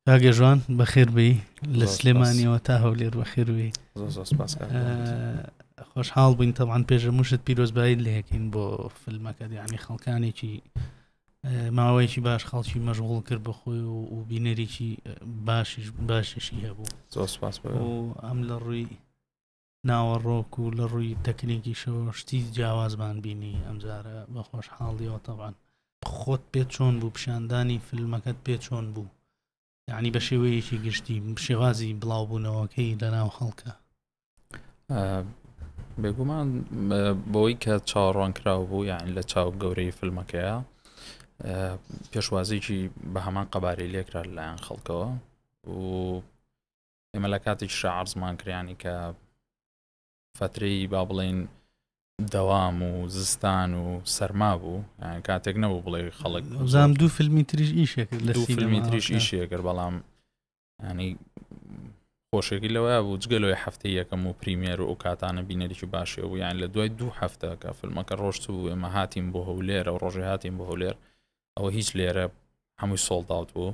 کاگەژوان بەخێربی لە سلێمانیەوە تا هەولێر بەخێروی خۆشحاڵ بووین تەوان پێشە مشت پیرۆزبایی لەکەین بۆ فیلمەکە دیانی خەڵکانێکی ماوەیەکی باش خەڵکی مەژغول کرد بە خۆی و بینەرێکی باشیش باشیشی هەبوو ئەم لە ڕووی ناوەڕۆک و لە ڕووی تەکنێکیشەوە شتی جیاوازمان بینی ئەمجارە بە خۆشحاڵیەوە تەوان خۆت پێ چۆن بوو پیشاندانی فیلمەکەت پێ چۆن بوو یعنی بە شێوەیەکی گشتی شێوازی بڵاوبوونەوەکەی لەناو خەڵکە بێگومان بۆی کە چاوەڕوانکراو بوو یان لە چاو گەورەی فیلمەکەیە پێشوازێکی بە هەمان قەبارەی لێکرا لەلایەن خەڵکەوە و ئێمە لە کاتێکشا عرزمان کریانی کە فترەی با بڵین دەوام و زستان و سەرما بوو کاتێک نەبوو بڵێ خەڵک زام دوو فیلمی تریش ئیشێک لە فیلمی تریش ئیشێکر بەڵام ینی خۆشێکی لەوەیە بوو جگەلۆی هەفتەی یەکەم و پریمێر و ئەو کاتانە بینەریی باشێ بوو یان لە دوای دوو هەفتە کە فیلمەکە ڕۆشت و ئێمە هاتیم بۆ هەولێرە و ڕۆژێ هاتیم بۆ هەولێر ئەوە هیچ لێرە هەمووی سۆڵداوت بوو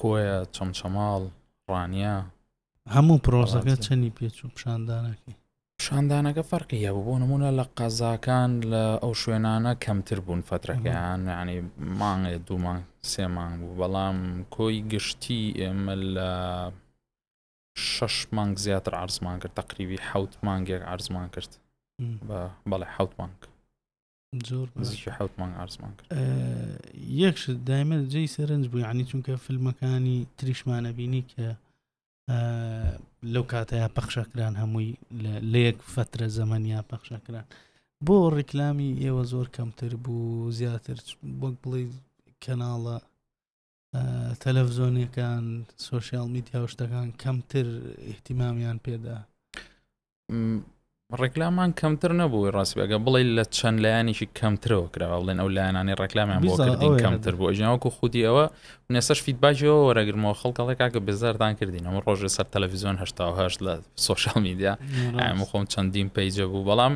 کۆیە، چەمچەماڵ، ڕانیە. هەموو پرۆسەکە چەنی پێچوو پیشاندانەکەی پیشاندانەکە فەرقی هەبوو بۆ نمونە لە قەزاکان لە ئەو شوێنانە کەمتر بوون فترەکەیان ینی مانگێ دوومان سێمان بوو بەڵام کۆی گشتی ئێمە لە شش مانگ زیاتر عرزمان کرد تقریبی حوت مانگێک عرزمان کرد بە بەڵێ حوت مانگ زۆر نزیکی حوت مانگ ئارزمان کرد یەکش دایمە جێی سەرنج بوو عنی چونکە فیلمەکانی تریشمانە بینی کە لەو کاتەیە پەخشەکران هەمووی لە یەک فترە زەمەنیا پەخشەکران بۆ ڕیکلامی ئێوە زۆر کەمتر بوو زیاتر وەک بڵێ کەناڵە تەلەڤزۆنیەکان سوۆسیال میدیا و شتەکان کەمتر احتیمامیان پێدا ڕێکلامان کەمتر نەبووی ڕاستبێگە بڵێ لە چەند لایەنێکی کەمترەوە کراوە بڵێن ئەو لایەنانی ڕێکلامیان بۆ کردین کەمتر بۆ ژیاوەکو خودی ئەوە نێسەش فیدباجەوە وەرەگرمەوە خەڵکەڵێک کاکە بێزارتان کردین ئەمە ڕۆژە سەر تەلەڤزیۆن هه لە سوۆشال میدیا ئەمە خۆم چەندین پیجە بوو بەڵام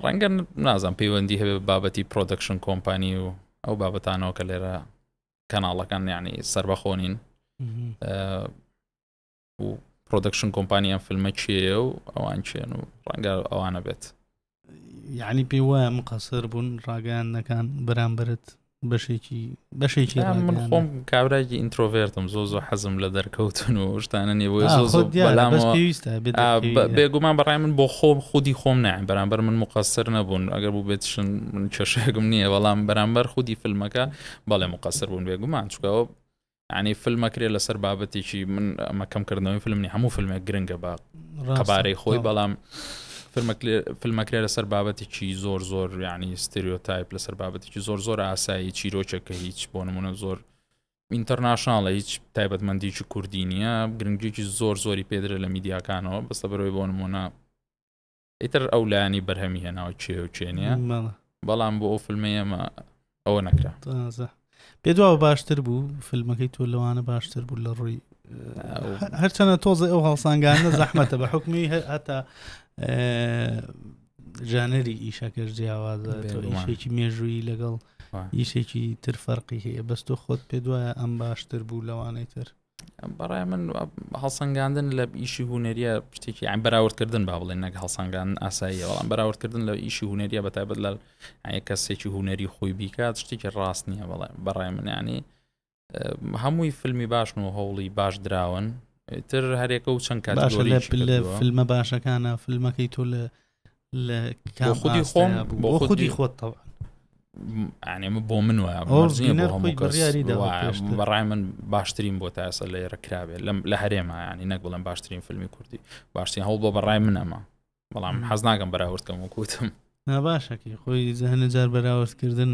ڕەنگە نازان پەیوەندی هەبێ بابەتی پرۆدەکشن کۆمپانی و ئەو بابەتانەوە کە لێرە کەناڵەکان یعنی سربەخۆنین و پرۆدەکشن کۆمپانی ئەم فیلمە چێە و ئەوان چێن و ڕەنگە ئەوانە بێت یعنی پێ وایە مقەسەر بوون ڕاگەیانەکان بەرامبرت بەشێکی بەشێکی من خۆم کابراکی ئینترۆڤێرتم زۆ زۆ حەزم لە دەرکەوتن و شتانە نیە بۆی زۆ بێگومان بەڕای من بۆ خۆم خودی خۆم نایە بەرامبەر من مقەسەر نەبوون ئەگەر بوو بێتشن من کێشێکم نییە بەڵام بەرامبەر خودی فیلمەکە بەڵێ مقەسەر بوون بێگومان چکەوە یانی فلم ئەکرێ لەسەر بابەتێکی من ئەمە کەم کردنەوەی فلم نی هەموو فلمێک گرنگە بە قەبارەی خۆی بەڵام فلمەکرێ لەسەر بابەتێکی زۆر زۆر یعنی ستریۆتایپ لەسەر بابەتێکی زۆر زۆر ئاسایی چیرۆکێکە هیچ بۆ نمونە زۆر ئینتەرناشناڵە هیچ تایبەتمەندیکی کوردی نییە گرنگێکی زۆر زۆری پێدرە لە میدیاکانەوە بەستە بەرەوەی بۆ نمونە ئیتر ئەو لایەنی بەرهەمی هێناوە کێ و کێ نیە مەڵە بەڵام بۆ ئەو فیلمی ئێمە ئەوە نەکرا تازە پێ دواوە باشتر بوو فیلمەکەی تۆ لەوانە باشتر بوو لە ڕووی هەرچەنە تۆزە ئەو هەڵسانگانە زەحمەتە بە حکمی هەتا ژانەری ئیشەکەش جیاوازە ئیشێکی مێژووی لەگەڵ ئیشێکی تر فەرقی هەیە بەس تۆ خۆت پێ دوایە ئەم باشتر بوو لەوانەی تر بەڕای من هەڵسەنگاندن لە ئیشی هوەریە شتێکی ئەم بەراوردکردن با بڵێن نەک هەڵسەنگاندن ئاساییە بەڵام بەراوردکردن لە ئیشی هوەریە بە تایبەت لە کەسێکی هوەری خۆی بیکات شتێکی ڕاست نییە بەڵێ بەڕای منیانی هەمووی فیلمی باشن و هەوڵی باش دراون تر هەرێکە و چەند کات فیلمە باشەکانە فیلمەکەی تۆ لە لە خودی خۆم بۆ خودی خۆت تەوە ئەمە بۆ من وایە بەڕای من باشترین بۆ تاسە لە ێرەکراوێت لەم لە هەرێمایانی نەک بڵێن باشترین فیلمی کوردی باشترین هەوڵ بۆ بەڕای من ئەمە بەڵام حەز ناگەم بەراوردکەم و کوتم ناباشەکەی خۆی زەهنە جار بەراوردکردن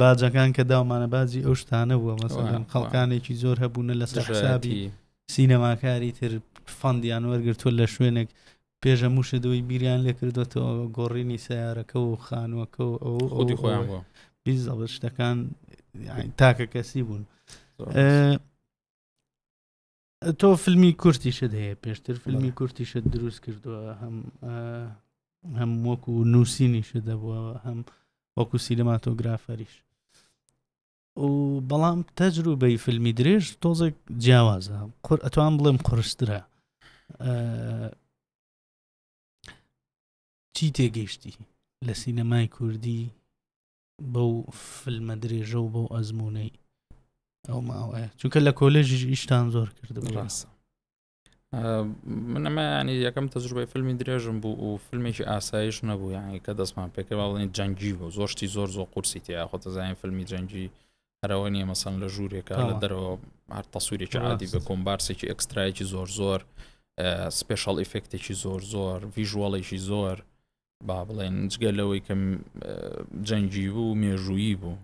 باجەکان کە داومانە باجی ئەو شتانە بووە مەسەن خەڵکانێکی زۆر هەبوونە لە سەرسابی سینەماکاری تر فەندیان وەرگتووە لە شوێنێک پێشە موشەدەوەی بیریان لێکردوێتەوە گۆڕینی سیارەکە و خانووەکە و ئەو خودی خۆیان بووە بیزەڵ شتەکان تاکە کەسی بوون. تۆ فیلمی کورتیشت هەیە پێشتر فیلمی کورتیشت دروست کردووە هەم هەم وەکو نووسینیشت دەبووە هەم وەکو سینەماتۆگرافەریش و بەڵام تەجروبەی فیلمی درێژ تۆزێک جیاوازە قور ئەتوان بڵێم قرسترە چی تێگەیشتی لە سینەمای کوردی بەو فلمە درێژە و بەو ئەزمونەی ئەو ماوەیە چونکە لە کۆلێژیش ئیشتان زۆر کرد ڕاست من ئەمە ینی یەکەم تەجروبەی فیلمی درێژم بوو و فیلمێکی ئاسایش نەبوو یانی کە دەستمان پێکە باڵێن جەنگی بۆ زۆشتی زۆر زۆر قورسی تیا خۆتەزانین فیلمی جەنگی هەرەوە نیە مەسەن لە ژوورێکە لە دەرەوە هەر تەسوورێکی عادی بە کۆمبارسێکی ئەکسترایکی زۆر زۆر سپێشال ئیفکتێکی زۆر زۆر ڤژوەڵێکی زۆر با بڵێن جگە لەوەی کە جەنگی بوو مێژوویی بوو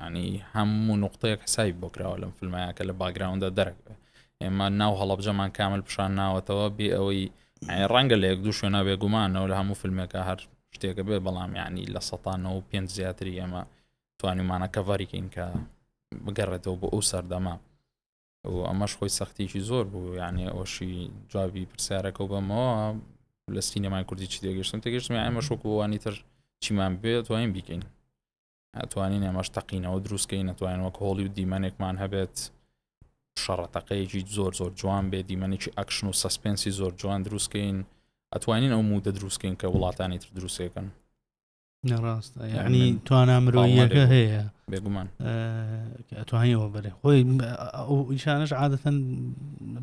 ینی هەموو نقطەیەک حسای بۆ کراوە لەم فیلمایە کە لە باگراوندا دەرەکە ئێمە ناو هەڵبجەمان کامل پیشان ناوەتەوە بێ ئەوەی ڕەنگە لە یەک دوو شوێنە بێگومانەوە لە هەموو فیلمێکە هەر شتێکە بێ بەڵام ینی لە سەانەوە پێ زیاتری ئێمە توانیمانە کەڤریکەین کە بگەڕێتەوە بۆ ئەو سەردەما و ئەمەش خۆی سەختێکی زۆر بوو یانێ ئەوشی جوابی پرسیارەکە و بەمەوە لە سینەمای کوردی چی دەگەشتن تەگەشتم ئەمە شوکووانی تر چیمان بێت توانین بیکەین ئەتوانین ئەمەش تەقینەوە دروستکەین نەتوانین وەک هۆڵی و دیمەنێکمان هەبێت شەڕەتەقەیەکی زۆر زۆر جوان بێ دیمەنێکی ئەکشن و سەسپێنسی زۆر جوان دروستکەین ئەتوانین ئەو مودە دروستکەین کە وڵاتانی تر دروستەکەن نەڕاستە یعنی توانا مرۆیەکە هەیە بێگومان ئەتوانیەوە بەرێ خۆی ئەو ئیشانش عادەتەن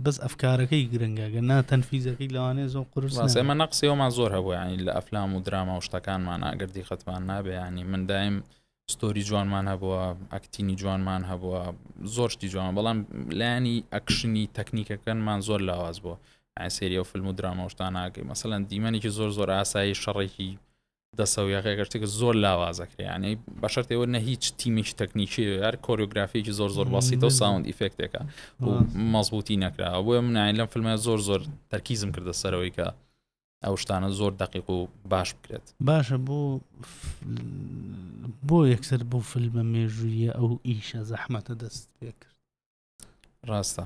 بەس ئەفکارەکەی گرنگەگە نا تەنفیزەکەی لەوانێ زۆ قرسمە نەقسیەوەمان زۆر هەبوو ینی لە ئەفلام و دراما و شتەکانمان ئاگردی خەتمان نابێ ینی من دایم ستۆری جوانمان هەبووە ئەکتینی جوانمان هەبووە زۆر شتی جوان بەڵام لایانی ئەکشنی تەکنیکەکەنمان زۆر لاواز بووە سریە و فیلم و درامەشتان ناگەی مەسەەن دیمەنێکی زۆر زۆر ئاسایی شەڕێکی دەسەویەکە گەشتێکە زۆر لاوازەکرێ یانەی بەشەرتەوە نە هیچ تیمێکی تەکنیکی یار کۆریۆگرافێکی زۆر زۆر باسیتە و ساوند ئیفکتێکە و مەزبوتی نەکراوە بۆیە منایە لەم فیلمە زۆر زۆر تەرکیزم کردە سەرەوەی کە ئەو شتانە زۆر دقیق و باش بکرێت باشە بۆ بۆ یەکسەر بۆ فیلمە مێژوویە ئەو ئیشە زەحمەتە دەست پێ کرد ڕاستە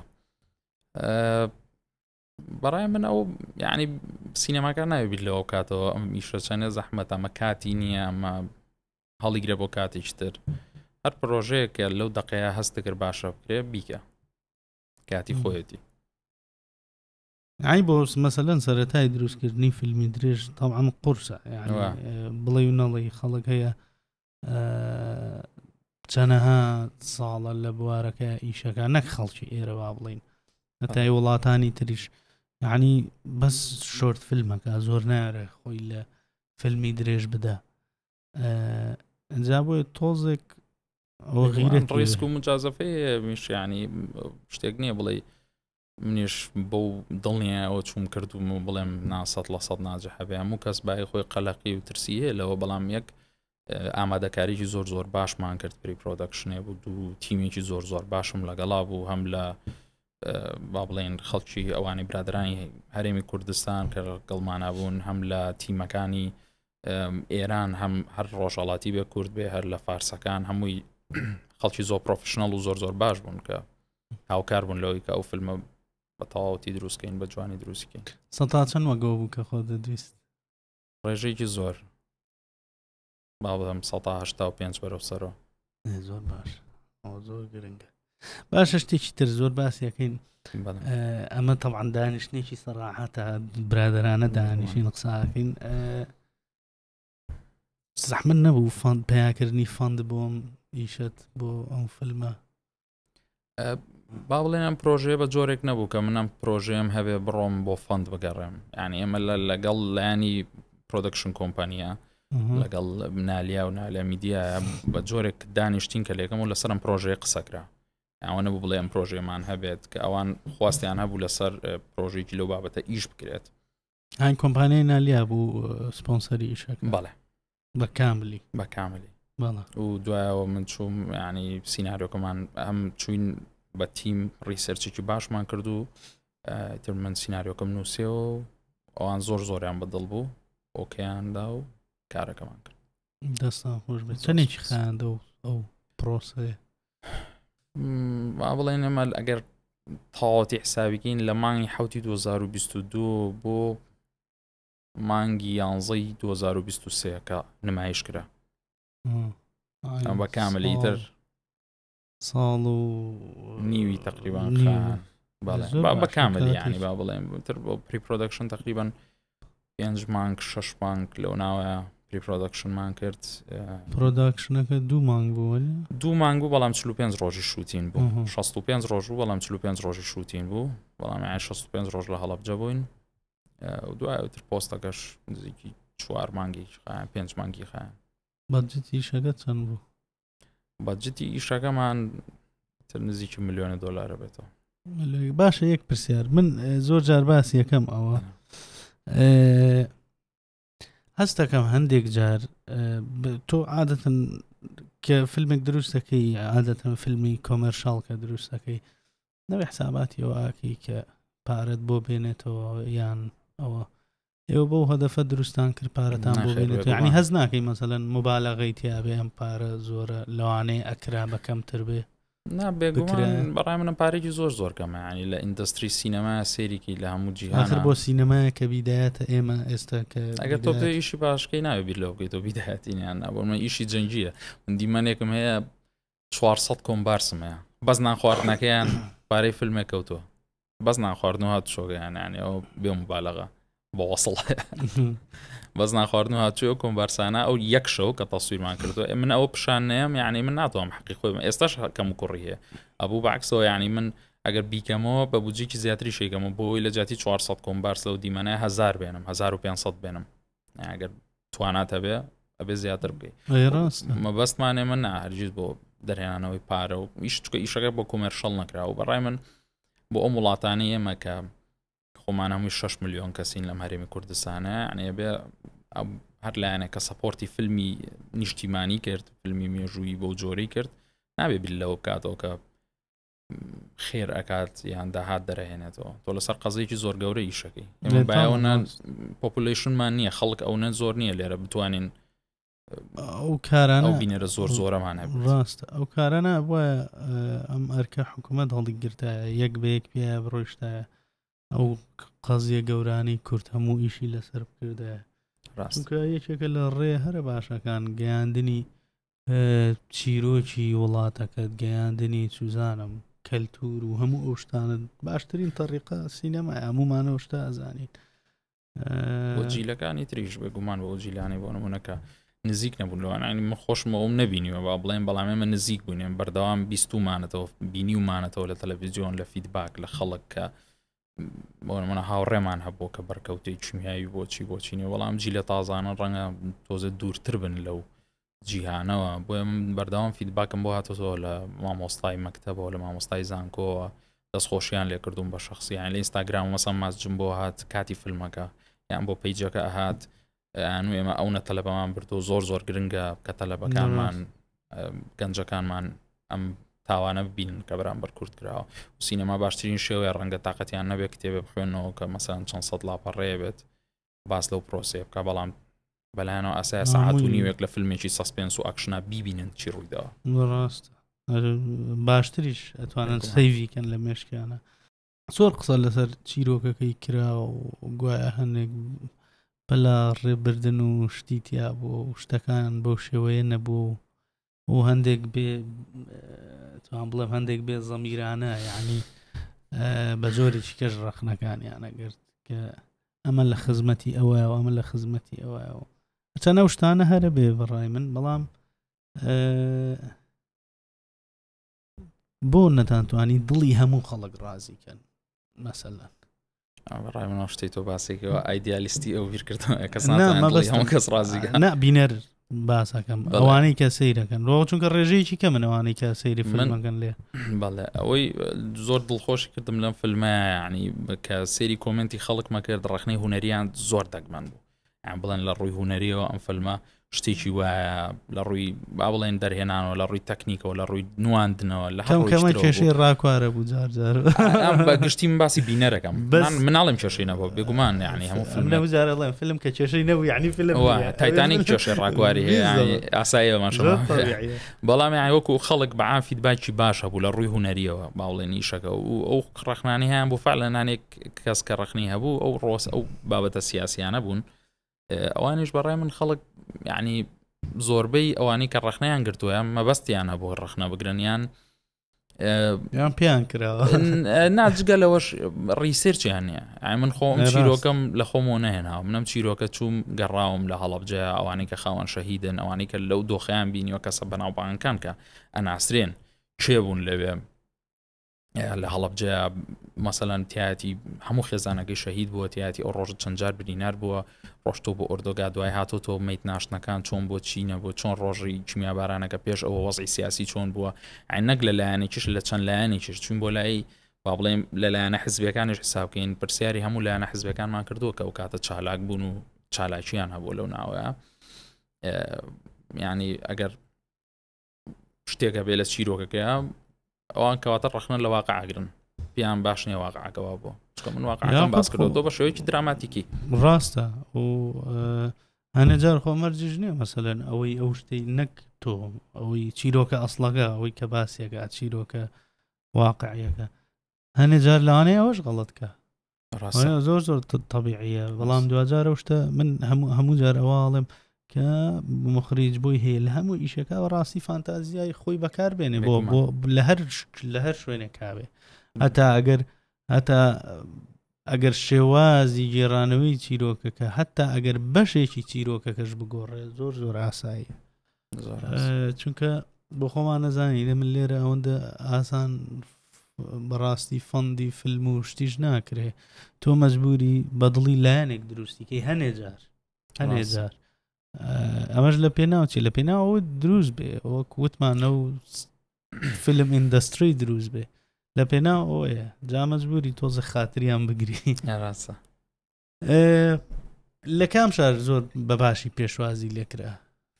بەڕای من ئەو یعنی سینەماکە ناوێبییر لەوە کاتەوە ئەم ئیشە چەنە زەحمەت ئەمە کاتی نییە ئەمە هەڵیگرە بۆ کاتیشتر هەر پرۆژەیەکە لەو دقەیە هەستەکرد باشە بکرێ بیکە کاتی خۆیەتی ئای بۆ مەسەلەن سەرەتای دروستکردنی فیلمی درێژ تاوان قورسە بڵێ و نەڵی خەڵک هەیە چەنەها ساڵە لە بوارەکە ئیشەکە نەک خەڵکی ئێرە با بڵین هەتای وڵاتانی تریش یعنی بەس شۆرت فیلمەکە زۆر نارێ خۆی لە فیلمی درێژ بدە ئەجا بۆ تۆزێک ڕیسک و مجازەفەیە میشیانی شتێک نییە بڵێ منیش بەو دڵنیایەوە چووم کردووم و بڵێم نا سەد لە سەد ناجح هەبێ هەموو کەس بای خۆی قەلەقی و ترسی هەیە لەوە بەڵام یەک ئامادەکاریی زۆر زۆر باشمان کرد پری پرۆدەکشنێ بوو دوو تیمێکی زۆر زۆر باشم لەگەڵا بوو هەم لە با بڵێن خەڵکی ئەوانی برادرانی هەرێمی کوردستان کە گەڵمانە بوون هەم لە تیمەکانی ئێران هەم هەر ڕۆژهڵاتی بێ کورد بێ هەر لە فارسەکان هەمووی خەڵکی زۆر پرۆفشننەڵ و زۆر زۆر باش بوون کە هاوکار بوون لەوەی کە ئەو فیلمە بە تەواوەتی دروستکەین بە جوانی دروستکەین سەتا چەند وەگەوە بوو کە خۆ دەدویست ڕێژێکی زۆر با بڵم 1970 بەرەو سەرەوە زۆر باش زۆر گرنگە باشە شتێکی تر زۆر باسیەکەین ئەمە تەوان دانیشتێکی سەراحەتە برادرانە دانیشین قساکەین زەحمن نەبوو فند پیاکردنی فند بۆم ئیشت بۆ ئەو فلمە با بڵێن ئەم پرۆژەیە بە جۆرێک نەبوو کە منم پرۆژەیەم هەبێ بڕۆم بۆ فەند بگەڕێم یعنی ئێمە لە لەگەڵ لایانی پرۆدکشن کۆمپانیا لەگەڵ منالیا و نالە میدیە بە جۆرێک دانیشتین کە لێکەم و لەسەرم پرۆژەیە قسەکرا ئەوەنە بوو بڵێم پرۆژێمان هەبێت کە ئەوان خواستیان هەبوو لەسەر پرۆژێکی لەو بابەتە ئیش بکرێت هاین کۆمپانیای نالیا بوو سپۆنسەری ئیشەک بەڵێ بە کاملی بە کاملی و دوایەوە من چوم ینی سینناریۆکەمان ئەم چوین بە تیم ڕیسەرچێکی باشمان کرد و تر من سینناریۆکەم نووسەوە ئەوان زۆر زۆریان بەدڵ بوو ئۆکەیاندا و کارەکەمان کرد دەستان خۆش بێت چەندێکی خیاندە و ئەو پرۆسەیە با بڵێن ئەمە ئەگەر تەواوەتی حسابیکەین لە مانگی حوتی 2022 بۆ مانگی یانزەی 2023 کە نمایش کرا ئەم بە کاملی تر ساڵ و نیوی تقریبان بە کامل ینی با بڵێن تر بۆ پری پرۆدەکشن تقریبان پێنج مانگ شش مانگ لەو ناوە پری پرۆدەکشنمان کرد پرۆداکشنەکە دوو مانگ بوو دوو مانگ بوو بەڵام 45 ڕۆژی شووتین بوو 65 ڕۆژ بوو بەڵام 45 ڕۆژی شووتین بوو بەڵام 65 ڕۆژ لە هەڵبجە بووین دوایتر پۆستەکەش نزیکی چوار مانگی پێنج مانگی خە بەجتیشەکە چەند بوو بەجددی ئیشەکەمان تر نزیکی ملیۆنە دۆلارە بێتەوە باشە یەک پرسیار من زۆر جار باس یەکەم ئەوە هەستەکەم هەندێک جار تۆ عادەتن کە فیلمێک دروستەکەی عادەتەن فیلمی کۆمەرشال کە دروستەکەی نەوەی حساباتی ئەو ئاکی کە پارەت بۆ بێنێتەوە یان ئەوە ئێوە بۆ هەدەفە دروستان کرد پارەتان بۆ بێنێت ینی هەز ناکەی مەسەەن مبالەغی تیاێ ئەم پارە زۆرە لەوانەیە ئەکرا بە کەمتر بێ نابێگومان بەڕای منە پارێکی زۆر زۆر کەمەیانی لە ئیندستری سینەما سێریکی لە هەموو جیهان بۆ سینەمایە کە بیدایەتە ئێمە ئێستا کە ئەگەر تۆ پێ ئیشی باشکەی ناوێ بیر لەوگەی تۆ بیداەتینیان نابمە ئیشی جەنگیە من دیمەنێکم هەیە چوار سەد کۆمبارسم هەیە بەس نان خواردنەکەیان پارەی فیلمێک کەوتووە بەس نان خواردن و هات شۆگەیان یانێ ئەو بێ مبالغە بە وەسڵ بەس نان خواردن و هاتووە کۆمبارسانە ئەو یەک شەو کە تەسویرمان کردو ئێ من ئەوە پیشان نەیەم یعنی من ناتوانم حقی خۆی من ئێستاش هەکەم و کوڕی هەیە ئەبوو بەعکسەوە یعنی من ئەگەر بیکەمەوە بە بجێکی زیاتری شێکەمە بۆ ئەوی لە جاتی 400 کۆمبارس لەو دیمەنە هزار بێنم 1500 بێنم ئەگەر توانات هەبێ ئەبێ زیاتر بکەیت مەبەستمانێ من ناهرگیز بۆ دەرهێنانەوەی پارە و ئیش چکە ئیشەکە بۆ کۆمەرشەڵ نەکراوە بەڕای من بۆ ئەو وڵاتانی ئێمە کە خۆمان هەمووی 6 میلیۆن کەسین لەم هەرێمی کوردستانە ئەنێ بێ هەر لایەنە کە سەپۆرتی فیلمی نیشتیمانی کرد فیلمی مێژووی بۆ جۆری کرد نابێ بیر لەوە بکاتەوە کە خێر ئەکات یان داهات دەرەهێنێتەوە تۆ لەسەر قەزێکی زۆر گەورە ئیشەکەی ئێمە باەوەە پۆپولشنمان نییە خەڵک ئەو نە زۆر نییە لێرە بتوانین ئەو کاران ئەو بینەرە زۆر زۆرەمان ڕاستە ئەو کارانە بە ئەم ئەرکە حکوومەت هەڵی گرتایە یەک بە یەک پێ بڕۆشتایە ئەو قەزیە گەورانی کورد هەموو ئیشی لەسەر بکردە ڕاستکە یەکێکە لە ڕێ هەرە باشەکان گەیاندنی چیرۆکی وڵاتەکەت گەیاندنی چوزانم کەلتور و هەموو ئەو شتانت باشترین تەڕیقا سینەما هەمومانەوە شتا ئەزانیت بۆ جیلەکانی تریش بێ گومان بۆ جیلانی بۆ نمونونەکە نزیک نەبوون لەوانانی من خۆشمە ئەوم نبینیوە با بڵێن بەڵام ئێمە نزیک بوونێن بەردەوام بیستمانەتەوە بینی ومانەتەوە لە تەلەڤزیۆن لە فیدباک لە خەڵک کە بۆ منە هاوڕێمان هەبوو کە بەرکەوتەی چمیایی بۆچی بۆچینە وەڵام جی لە تازانە ڕەنگە تۆزە دوورتر بن لەو جیهانەوە بۆیە من بەردەوام فیدباکم بۆ هاتەوە لە مامۆستای مەکتتەبەوە لە مامۆستای زانکۆوە دەستخۆشییان لێکردوم بە شخصیان لە ئینستاگرام مەسە ماسجم بۆ هات کاتی فیلمەکە یان بۆ پیجەکە ئەهات ئەنو ئێمە ئەو نە تەلەبەمان بردو زۆر زۆر گرنگە کە تەلەبەکانمان گەنجەکانمان ئەم تاوانە ببین کە بەرامبەر کورد کراوە سینەما باشترین شێوەیە ڕەنگە تااقەتیان نەبێت کتێبێ بخوێنەوە کە مەسان چەند سەد لاپەڕێ بێت باس لەو پرۆسەیە بکە بەڵام بەلایەنەوە ئاسای سەعات و نیوێک لە فیلمێکی سەسپێنس و ئەکشنا بیبینن چی ڕوویداوە ڕاست باشتریش ئەتوانن سەیڤیکەن لە مێشکیانە زۆر قسە لەسەر چیرۆکەکەی کرا و گوایە هەندێک بەلا ڕێبردن و شتی تیا بۆ شتەکان بەو شێوەیە نەبوو و و هەندێک بێ توان بڵێم هەندێک بێ زەمیرانە یعنی بە جۆرێکی کەش ڕەخنەکانیان نەگرت کە ئەمە لە خزمەتی ئەوە و ئەمە لە خزمەتی ئەوە و چەنە شتانە هەرە بێ بەڕای من بەڵام بۆ نەتانتوانی دڵی هەموو خەڵک ڕازی کەن مەسەلەن ڕای منەوە شتی تۆ باسێکەوە ئایدیالیستی ئەو بیرکردن کەس ڕازی نا بینەر باسەکەم ئەوانەی کە سیرەکەن ڕۆ چونکە ڕێژەیەکی کە منەوانەی کە سەیری فلمەکەن لێ بەڵێ ئەوەی زۆر دڵخۆش کردم لەم فلمەیانی کە سێری کۆمنتی خەڵک مەکرد ڕخنەی هوەریان زۆر دەگمەن بوو یان بڵێن لە ڕووی هوەریەوە ئەم فەلمە شتێکی وایە لە ڕووی با بڵێن دەرهێنانەوە لە ڕووی تەکنیکەوە لە ڕووی نواندنەوە لە هەمکەمە کێشەی ڕاکوارە بوو جارجار بە گشتیم باسی بینەرەکەم بەس مناڵم کێشەی نەبوو بێگومان یعنی هەموو فیلم نەوزارەڵێن فیلم کە کێشەی نەبوو یعنی فیلم تایتانی کێشەی ڕاکواری ئاسایەمان بەڵام یان وەکو خەڵک بەعافیت باکی باش هەبوو لە ڕووی هوەریەوە باوڵێن نیشەکە و ئەو ڕخنانیان بۆ فعلەنانێک کەس کە ڕخنی هەبوو ئەو ڕۆس ئەو بابەتە سیاسیانە بوون ئەوانش بەڕای من خەڵک یعنی زۆربەی ئەوانی کە ڕخنیان گرتووە مەبەستیان هەبوو ڕخنە بگرنیان یان پێیان کراوە ناجگە لەوەش ڕیسرچیان نیە ئای من خۆم چیرۆکەم لە خۆمەوە نهێناوە منم چیرۆکە چووم گەڕاوم لە هەڵبجە ئەوانەی کە خاوەن شەهیدن ئەوانەی کە لەو دۆخیان بینیوە کەسە بەناوبانگەکان کە ئەناسرێن چێ بوون لەوێ لە هەڵبجە مەسەلەن تایەتی هەموو خێزانەکەی شەهید بووە تایەتی ئەو ڕۆژ چەندجار برینار بووە ڕۆشتۆ بۆ ئۆردۆگا دوای هاتۆ تۆ میت ناشتنەکان چۆن بۆ چینە بۆ چۆن ڕۆژی کیمیابارانەکە پێش ئەوە وەزی سیاسی چۆن بووە عینەک لە لایەنێکیش لە چەند لایەنێکیش چون بۆ لای با بڵێم لەلایەنە حزبەکانش حسابکەین پرسیاری هەموو لایەنە حزبەکانمان کردووە کە ئەو کاتە چالاک بوون و چالاکییان هەبوو لەو ناوەیە ینی ئەگەر شتێک هەبێ لە چیرۆکەکەیا ئەوان کەواتە ڕخنە لە واقعگرن پێیان باش نیە واقعەکەوا بۆ چکە من واقعەکەم باس کردو تۆ بە شێوەیەکی دراماتیکی ڕاستە و هەنەجار خۆمەرجش نیە مەسەلەن ئەوەی ئەو شتەی نەک تۆ ئەوەی چیرۆکە ئەسڵەکە ئەوەی کە باسیەکە چیرۆکە واقعیەکە هەنێ جار لەوانەیە ئەوەش غەڵەتکە ڕاستە زۆر زۆر طبیعیە بەڵام دواجارە شتە من هەموو هەموو جار ئەواڵێم کە مخریج بۆی هەیە لە هەموو ئیشەکە بە ڕاستی فانتازیای خۆی بەکار بێنێ بۆ بۆ لە هەر لە هەر شوێنێک کاوێ هەتا ئەگەر هەتا ئەگەر شێوازی گێڕانەوەی چیرۆکەکە هەتا ئەگەر بەشێکی چیرۆکەکەش بگۆڕێ زۆر زۆر ئاساییە چونکە بۆ خۆمان نەزانانی لە من لێرە ئەوەندە ئاسان بەڕاستی فەندی فیلم و شتیش ناکرێ تۆ مەجبوری بەدڵی لایەنێک دروستیکەی هەنێ جار هەنێ جار ئەمەش لە پێناوچی لە پێناوە دروست بێ وەک وتمانە و فیلم ئیندستری دروست بێ لە پێناو ئەوەیە جا مەجبوری تۆزە خاتریان بگری ڕاستە لە کام شار زۆر بەباشی پێشوازی لێکرا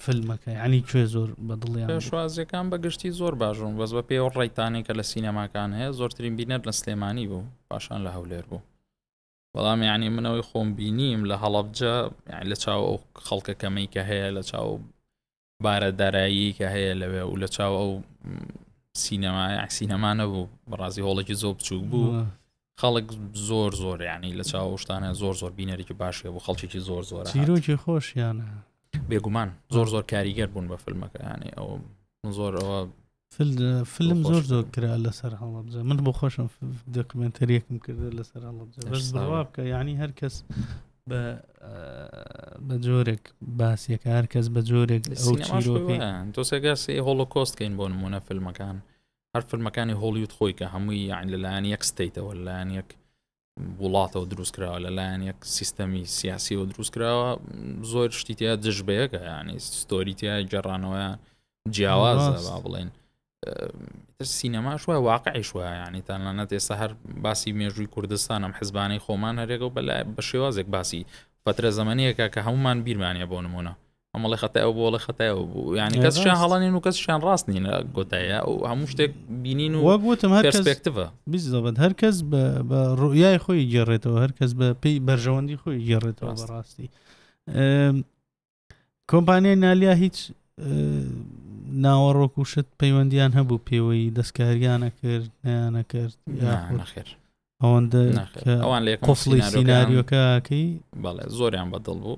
فیلمەکە ینی کوێ زۆر بەدڵیان پێشوازیەکان بەگشتی زۆر باشون بەس بە پێوە ڕێکتانی کە لە سینەماکان هەیە زۆرترین بینەر لە سلێمانی بوو پاشان لە هەولێر بوو بەڵام یعنی منەوەی خۆم بینیم لە هەڵبجە لە چاو ئەو خەڵکە کەمەی کە هەیە لە چاو بارە داراییەی کە هەیە لەوێ و لە چاو ئەو سینەما سینەما نەبوو بەڕازی هۆڵێکی زۆر بچوک بوو خەڵک زۆر زۆر ینی لە چاو شتانە زۆر زۆر بینەرێکی باشێ بوو خەڵکێکی زۆر زۆر چیرۆکی خۆشیانە بێگومان زۆر زۆر کاریگەر بوون بە فیلمەکەیانی ئەو زۆر ئەوە فلم زۆر زۆر کرا لەسەر هەڵەبجە من بۆ خۆشم دەکمنتەریەکم کردە لەسەر هەڵەبجە بەس بڕوا بکە یعنی هەر کەس بە بە جۆرێک باسیەکە هەر کەس بە جۆرێک تۆسەگەسی هۆڵۆکۆستکەین بۆ نمونە فیلمەکان هەر فیلمەکانی هۆڵیوت خۆی کە هەمووی یان لەلایەن یەک ستیتەوە لایەن یەک وڵاتەوە دروست کراوە لەلایەن یەک سیستەمی سیاسیەوە دروست کراوە زۆر شتیتیا دژ بەیەکە ینی ستۆریتیا گەڕانەوەیان جیاوازە با بڵێن سینەماش وە واقعیش وە ینی تانانە ئێستا هەر باسی مێژووی کوردستانم حزبانەی خۆمان هەرێگە و بەلای بە شێوازێک باسی فترە زەمانەیەکە کە هەمومان بیرمانە بۆ نمونە ئەمەڵی خەتای ئەو بۆڵی خەتای ئەو بوو یعنی کەسیان هەڵانین و کەسیان ڕاست نینە گۆتایە ئەو هەموو شتێک بینین و وەگوتم هەرپێکتەوە بزەبەت هەرکەس بە ڕویای خۆی گێڕێتەوە هەرکەس بە پێی بەرژەوەندی خۆی گێڕێتەوە ڕاستی کۆمپانیای نالیا هیچ ناوەڕۆک و شت پەیوەندیان هەبوو پێوەی دەستکاریانە کرد نیانە کرد ناخێر ئەوەندە ئەوان لێ قفڵی سینناریۆکەکەی بەڵێ زۆریان بەدڵ بوو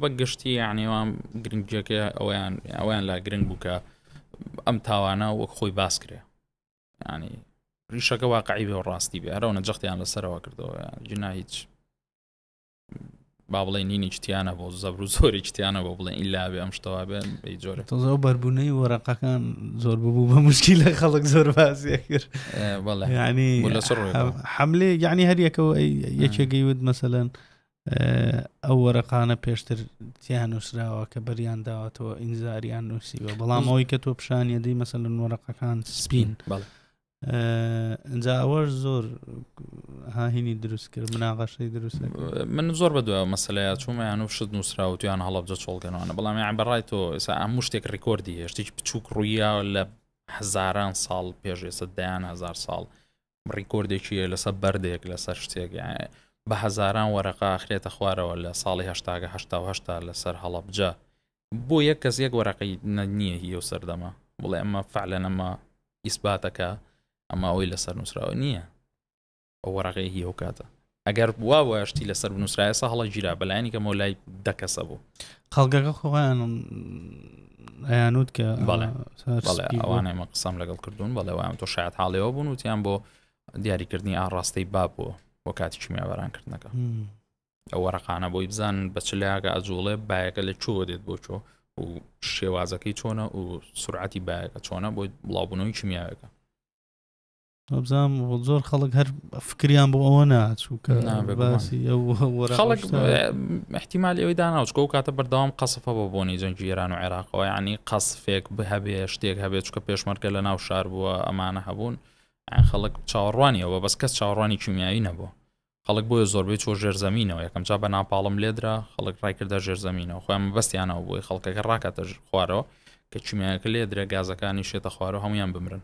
بە گشتی یانیوان گرنگجیەکە ئەویان ئەویان لا گرنگ بوو کە ئەم تاوانە وەک خۆی باس کرێ ینی ریشەکە واقعی بێ و ڕاستی بێ هەرەوە نەجەختیان لەسەرەوە کردەوە جنا هیچ با بڵێ نینی چتیانە بۆ زەبر و زۆری چتیانە بۆ بڵێن ئیلا بێ ئەم شتەوە بێن جۆرە تۆزەوە بەربوونەی وەرەقەکان زۆر ببوو بە مشکی لە خەڵک زۆر بازیە کرد ینی حملێ یعنی هەریەکەەوە یەکێگەی وت مەسەەن ئەو وەرەقانە پێشتر تیان نووسراوە کە بەریان داوەتەوە ئینزاریان نووسیوە بەڵام ئەوەی کە تۆ پیشانە دی مەسەن وەرەقەکان سپین ئەجا ئەوەش زۆر هاهینی دروست کرد مناغەشەی دروست من زۆر بە دوای مەسلەیە چوومەیان و شت نووسراوتیان هەڵبجە چۆڵگەنەوەە بەڵام یان بەڕای تۆ ئێسا ئەم شتێک ڕیکۆردی هێشتێکی بچووک ڕوویە لە هزاران ساڵ پێش ئێستا دەیان هزار ساڵ ڕیکۆردێکی هەیە لەسەر بەردێک لەسەر شتێک بە هەزاران وەرەقا خرێتە خوارەوە لە ساڵی هەشتاگە هەشتاهشتا لەسەر هەڵەبجە بۆ یەک کەس یەک وەرەقی نییە هی و سەردەمە بڵێ ئەمە فعلە نەمە ئیسباتەکە ئەمە ئەوی لەسەر نووسراوە نییە ئەو وەرەقەیە هی ئەو کاتە ئەگەر بوابوایە شتی لەسەر بنووسرایە سە هەڵە گیرا بەلایانی کەمەوە لای دەکەسە بوو خەڵگەکە خۆیان ئەیانوت کە ئەوانەمە قسەم لەگەڵ کردوون بەڵێوان تۆ شاید حاڵەوە بوون وتیان بۆ دیاریکردنی ئاڕاستەی باب بۆ بۆ کاتی کیمیاباران کردنەکە ئەو وەرەقانە بۆی بزان بەچلاگە ئەجوڵێ باەکە لە چۆ دێت بۆ چۆ و شێوازەکەی چۆنە و سرعەتی باەکە چۆنە بۆی بڵاوبوونەوەی کیمیاەکە بزانام زۆر خەڵک هەر فکریان بۆ ئەوە ناچوو کە باسی خەڵک احتیمال ئەوی داناوچکە و کاتە بەردەوام قەسفە بە بۆنی جەنگی ئێران و عێراقەوە ینی قەسفێک بهبێ شتێک هەبێت چکە پێشمەرگە لە ناو شار بووە ئەمانە هەبوون خەڵک چاوەڕوانیەوە بەس کەس چاوەڕوانی کیمیایی نەبوو خەڵک بۆیە زۆربەی چۆ ژێرزەمینەوە یەکەم جا بە ناپاڵم لێدرا خەڵک ڕایکردە ژێرزەمینەوە خۆیان بەستیانەوە بۆی خەڵکەکە ڕاکاتە خوارەوە کە چیمیانەکە لێدرە گازەکانی شێتە خوارەوە هەمویان بمرن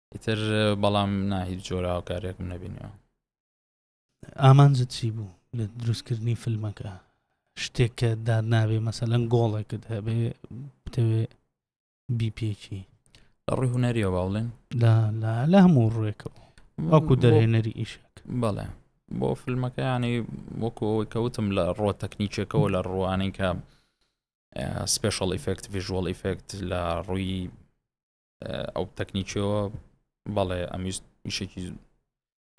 ئیتر بەڵام نا هیچ جۆرە هاوکارێکم نەبینەوە ئامانجت چی بوو لە دروستکردنی فیلمەکە شتێک کە دار نابێ مەسەلەن گۆڵێکت هەبێ بتەوێ بیپێکی لە ڕووی هوەریە باڵێن لە هەموو ڕوێکەوە وەکو دەرهێنەری ئیشک بەڵێ بۆ فیلمەکەیانی وەکو ئەوەی کەوتم لە ڕۆ تەکنیکێکەوە لە ڕوانەی کە سپێشڵ ئیفکت ڤژوەڵ ئیفکت لە ڕووی ئەو تەکنیکەوە بەڵێ ئەمیست وشێکی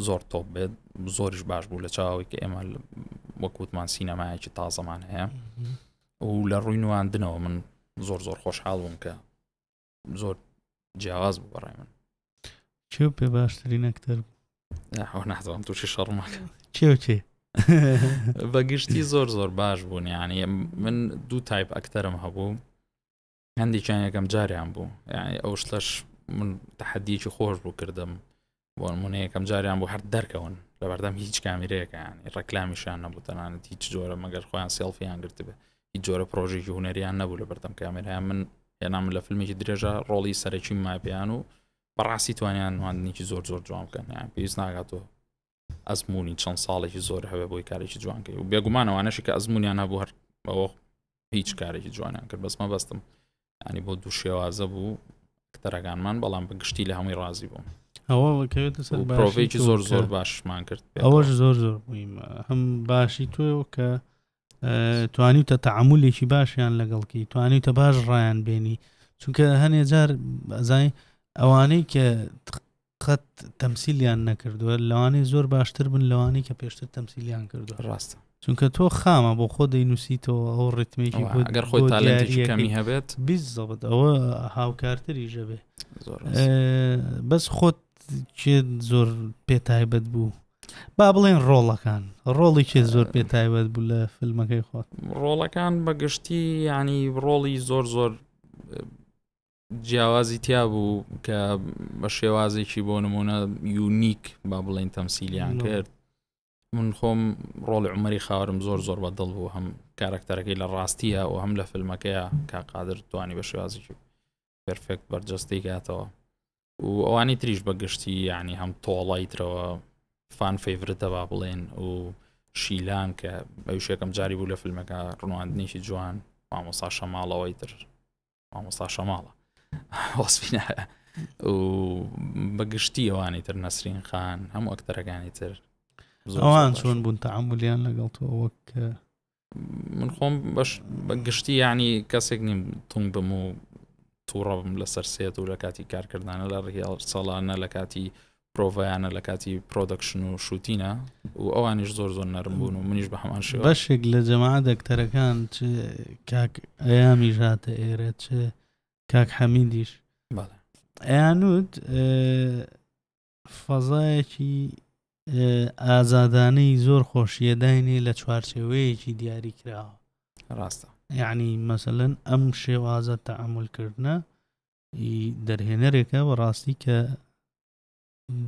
زۆر تۆپ بێت زۆریش باش بوو لە چاوی کە ئێمە وەکووتمان سینەمایەکی تازەمان هەیە و لە ڕووی نواندنەوە من زۆر زۆر خۆشحاڵ بووم کە زۆر جیاواز بوو بەڕای من چێ پێ باشتری نەکتەر بوو نازانم تووشی شەڕماکە چێ چێ بەگشتی زۆر زۆر باش بوون یعنی من دوو تایپ ئەکتەرم هەبوو هەندێکیان یەکەم جاریان بوو یعنی ئەو شتەش من تحدیکی خۆش بوو کردم بۆ منە یەکەم جاریان بۆ هەر دەرکەون لە بەردەم هیچ کامیرەیەەکان ڕکلامیشان نەبوو تەنانەت هیچ جۆرە مەگەر خۆیان سێڵفیان گرتبێ هیچ جۆرە پرۆژێکی هوەریان نەبوو لە بەردەم کامێرای من هێنام لە فیلمێکی درێژە ڕۆڵی سەرەکی ماپیان و بەڕاستی توانیان نواندنیکی زۆر زۆر جوان بکەن پێویست ناگاتەوە ئەزموونی چەند ساڵێکی زۆر هەبێ بۆی کارێکی جوان کرد و بێگومان ئەوانەشی کە ئەزمونیان هەبوو هەر بەوە هیچ کارێکی جوانیان کرد بەس مەبەستم ینی بۆ دوو شێوازە بوو کتەرەکانمان بەڵام بە گشتی لە هەمووی ڕازی بووم ئەوەڵکەوێتەسەرۆڤێکی زۆر زۆر باشمان کرد ئەوەش زۆر زۆر بوویم هەم باشی تۆ کە توانیتە تعاملێکی باشیان لەگەڵکی توانیتە باش ڕایان بێنی چونکە هەنێ جار ئەزای ئەوانەی کە قەت تەمسیلیان نەکردووە لەوانەیە زۆر باشتر بن لەوانی کە پێشتر تەمسیلیان کردو ڕاستە چونکە تۆ خامە بۆ خۆ دەینوسیتەوە ئەو ڕتمێکی گەر خۆی تالەنتیەکەمی هەبێت بیزەبت ئەوە هاوکارتری ژەبێ بەس خۆت چێ زۆر پێ تایبەت بوو با بڵێن ڕۆڵەکان ڕۆڵی چێ زۆر پێ تایبەت بوو لە فیلمەکەی خۆت ڕۆڵەکان بەگشتی ینی ڕۆڵی زۆر زۆر جیاوازی تیا بوو کە بە شێوازێکی بۆ نمونە یونیک با بڵێن تەمسیلیان کرد من خۆم ڕۆڵ عمەری خاورم زۆر زۆر بە دڵ بوو هەم کارکتەرەکەی لە ڕاستیە و هەم لە فیلمەکەیە کا قادر توانی بە شێوازێکی پرفێکت بەرجەستەی گاتەوە و ئەوانی تریش بە گشتی یعنی هەم تۆڵای ترەوە فان فیورتە با بڵێن و شیلان کە بەوشێکم جاری بوو لە فیلمەکە ڕوانندنیشی جوان مامۆسا شەماڵەوەی تر مامۆستا شەماڵە وەسفینە و بەگشتی ئەوانی تر نەسرین خان هەموو ئەکتەرەکانی تر ئەوان چۆن بوون تەعاملیان لەگەڵ تۆ وەک من خۆم بەش بەگشتی ینی کەسێک نیم تونگ بم و تووڕەبم لەسەر سێت و لە کاتی کارکردانە لە ڕیاڵ ساڵانە لە کاتی پرۆڤایانە لە کاتی پرۆدەکشن و شوتینە و ئەوانیش زۆر زۆر نەرم بوون و منیش بە هەمان شێوە بەشێک لە جەما دەکتەرەکان چ کاک ئەیامی ژاتە ئێرە چ کاک حەمیدیش بەڵێ ئەیانوت فەزایەکی ئازادانەی زۆر خۆشیە داینێ لە چوارچێوەیەکی دیاری کراوە ڕاستە یعنی مەسەن ئەم شێوازە تەعملکردە ی دەرهێنەرێکە بەڕاستی کە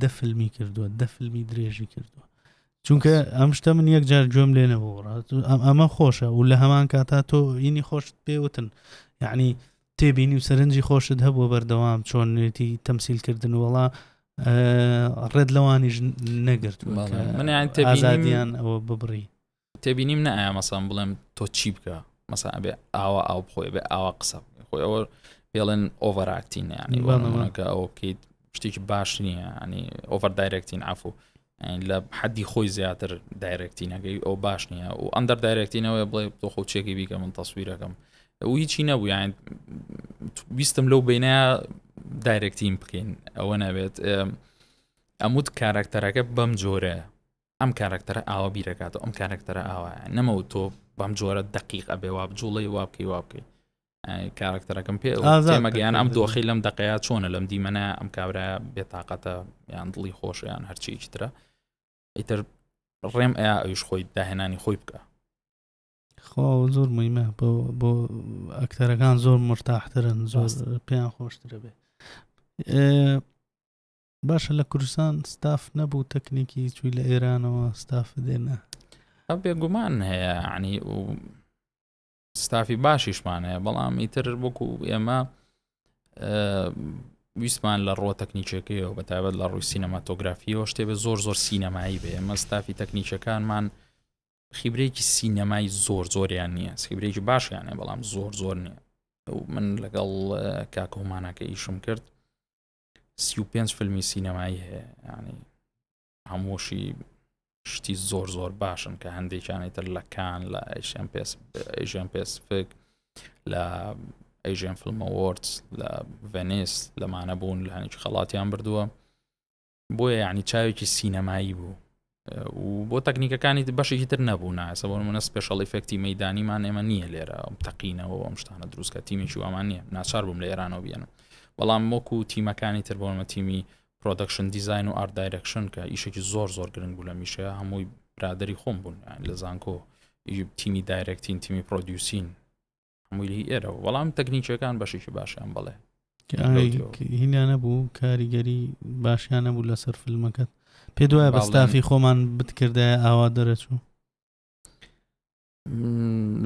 دە فیلمی کردووە دە فیلمی درێژی کردووە چونکە ئەم شتە من یەک جار گوێم لێ نەبوو ڕات ئەمە خۆشە و لە هەمان کاتا تۆ ئینی خۆشت پێوتن یعنی تێبینی و سەرنجی خۆشت هەبووە بەردەوام چۆن نوێتی تەمسیلکردن وڵا ڕێت لەوانیش نەگرت منیان تێبیزانیان ئەوە ببڕی تێبینیم نە ئایا مەسان بڵێم تۆ چی بکە مەسا ئەبێ ئاوا ئاو بخۆێ بێ ئاوا قسە خۆی ئەوە پێڵێن ئۆڤەراکتین ینی بەڵەکە ئەوە بکەیت شتێکی باش نییە ینی ئۆڤەر دایرەکتین ئافو لە حەدی خۆی زیاتر دایرەکتینەکەی ئەو باش نییە و ئەندەر دایرەکتینەوەی بڵێ تۆ خۆ چێکی بیکە من تەسویرەکەم ئەو هیچی نەبوو یان ویستم لەو بینە دایرەکتین بکەین ئەوە نەبێت ئەموت کارکتەرەکە بەم جۆرە ئەم کارەکتەرە ئاوا بیرەکاتەوە ئەم کارەکتەرە ئاوا نەمەوت تۆ بەم جۆرە دقیق ئەبێ وا بجوڵی وا بکەی وا بکەی کارەکتەرەکەم پێ مەگەیان ئەم دۆخی لەم دقەیە چۆنە لەم دیمەە ئەم کابرا بێتاقەتە یان دڵی خۆشیان هەرچیەکی ترە ئیتر ڕێم ئەیا ئەوش خۆی داهێنانی خۆی بکە خۆ زۆر مهمە بۆ بۆ ئەکتەرەکان زۆر مرتاحترن زۆر پێیان خۆشترە بێ باشە لە کوردستان ستاف نەبوو تەکنیکی چوی لە ئێرانەوە ستاف دێنە ئە بێگومان هەیە عنی و ستافی باشیشمان هەیە بەڵام ئیتر وەکو ئێمە ویسمان لە ڕۆ تەکنیکەکەیەوە بە تابەت لە ڕووی سینەماتۆگرافیەوە شتێ بێ زۆر زۆر سینەمایی بێ ئێمە ستافی تەکنیکەکانمان خیبرێکی سینەمای زۆر زۆریان نییە سیبرێکی باشیانە بەڵام زۆر زۆر نییە من لەگەڵ کاکۆمانەکە ئیشم کرد سی و پێنج فیلمی سینەمایی هەیە ینی هەمووشی شتی زۆر زۆر باشن کە هەندێکیانی تر لە کان لە ئەیشن پێس ئەیژن پێسفک لە ئەیژن فلمەوەرد لە ڤێنیس لەمانە بوون لە هەنیج خەڵاتیان بردووە بۆیە یعنی چاوێکی سینەمایی بوو و بۆ تەکنیکەکانی بەشێکی تر نەبوونا ئەسە بۆ منە سپێشڵ ئفکتی مەدانیمان ئێمە نییە لێرە ئەم تەقینەوە ئەم شتانە دروستکە تیمێکی وامان نییە ناچار بووم لە ئێرانەوە بێنم بەڵام وەکو و تیمەکانی تر بۆمە تیمی پرۆدەکشن دیزین و ئارد دایرەکشن کە ئیشێکی زۆر زۆر گرنگ بوو لە میشە هەمووی برادری خۆم بوون لە زانکۆ تیمی دایرەکتین تیمی پرۆدیوسین مویلی ئێرەوە بەڵام تەکنیکیەکان بەشێکی باشیان بڵێ هینانە بوو کاریگەری باشیانە بوو لەسەر فیلمەکەت پێ دوایە بەستافی خۆمان بتکردایە ئاوا دەرەچوو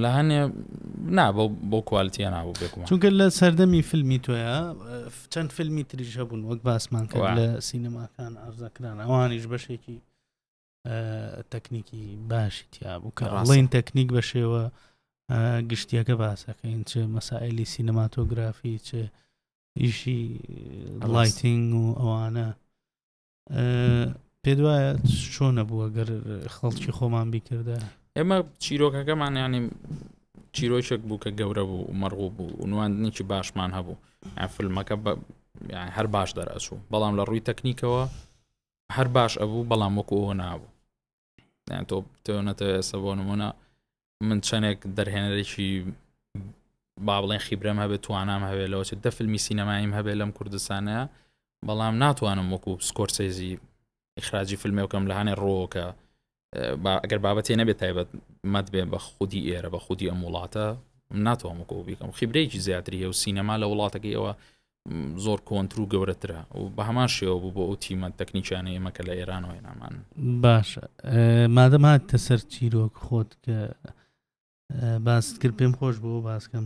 لە هەنێ نا بۆ کوالتیە نابوو بێکم چونکە لە سەردەمی فیلمی تۆە چەند فیلمی تریژە بوون وەک باسمان کرد لە سینەماکان ئارزەکران ئەوانیش بەشێکی تەکنیکی باشی تیابوو کە ڕاڵین تەکنیک بە شێوە گشتیەکە باسەکەین چ مەسائلی سینەماتۆگرافی چ ئیشی لایتنگ و ئەوانە پێ وایە چۆنە بووە گەر خەڵکی خۆمان بیکردە ئێمە چیرۆکەکەمان ینی چیرۆکێک بوو کە گەورە بوو مەڕغوو بوو ونواندنێکی باشمان هەبوو فیلمەکە هەر باش دەرەچوو بەڵام لە ڕووی تەکنیکەوە هەر باش ئەبوو بەڵام وەکو ئەوە نابوو یان تۆ تۆنەتە ئێستا بۆ نمونە من چەندێک دەرهێنەرێکی با بڵێن خیبرەم هەبێت توانام هەوێت لەوە دە فیلمی سینەمایم هەبێت لەم کوردستانە بەڵام ناتوانم وەکو سکۆرسێزی ئیخراجی فیلمێکم لە هاانێ ڕۆکە ئەگەر بابەتێ نەبێت تایبەت مەد بێ بە خودی ئێرە بە خودی ئەم وڵاتە ناتوانمەکۆ بیکەم خیبرەیەکی زیاتری هەیە و سینەما لە وڵاتەکەی ئەوە زۆر کۆنتر و گەورەترە و بە هەمان شێوە بوو بۆ ئەو تیمە تەکنیکیانە ئێمە کە لە ئێران وای نامان باش مادەم هاتە سەر چیرۆک خۆت کە باست کرد پێم خۆش بۆ باسکەم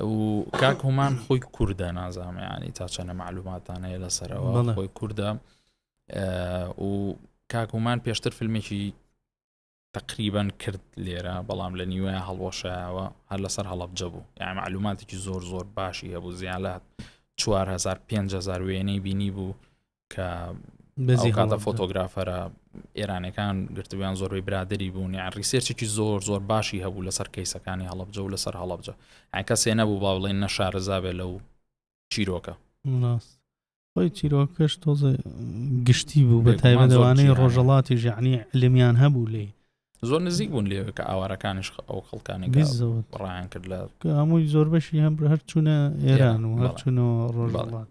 و کاک هومان خۆی کووردە نازانم ینی تا چەنە معلوماتان هەیە لەسەرەوە خۆی کووردە و کاک هومان پێشتر فیلمێکی تقریبان کرد لێرە بەڵام لە نیوە هەڵوەشایەوە هەر لەسەر هەڵبجە بوو یان معلوماتێکی زۆر زۆر باشی هەبوو زیان لە 4 500 وێنەی بینی بوو کە بەزیکاتە فۆتۆگرافەرە ئێرانەکان گرتویان زۆربەی برادری بوون یان ریسێرچێکی زۆر زۆر باشی هەبوو لەسەر کەیسەکانی هەڵبجە و لەسەر هەڵبجە ئەکەسێ نەبوو با بڵێن نەشارەزابێ لەو چیرۆکە خۆی چیرۆکەش تۆزە گشتی بوو بە تایبەتوانەی ڕۆژەڵاتی ژعنی لەمیان هەبوو لێ زۆر نزیک بوون لێ کە ئاوارەکانش ئەو خەڵکانی ڕایان کرد لە هەمووی زۆر بەشی هەم هەرچوونە ئێران و هەرچوونەوە ڕۆژڵات.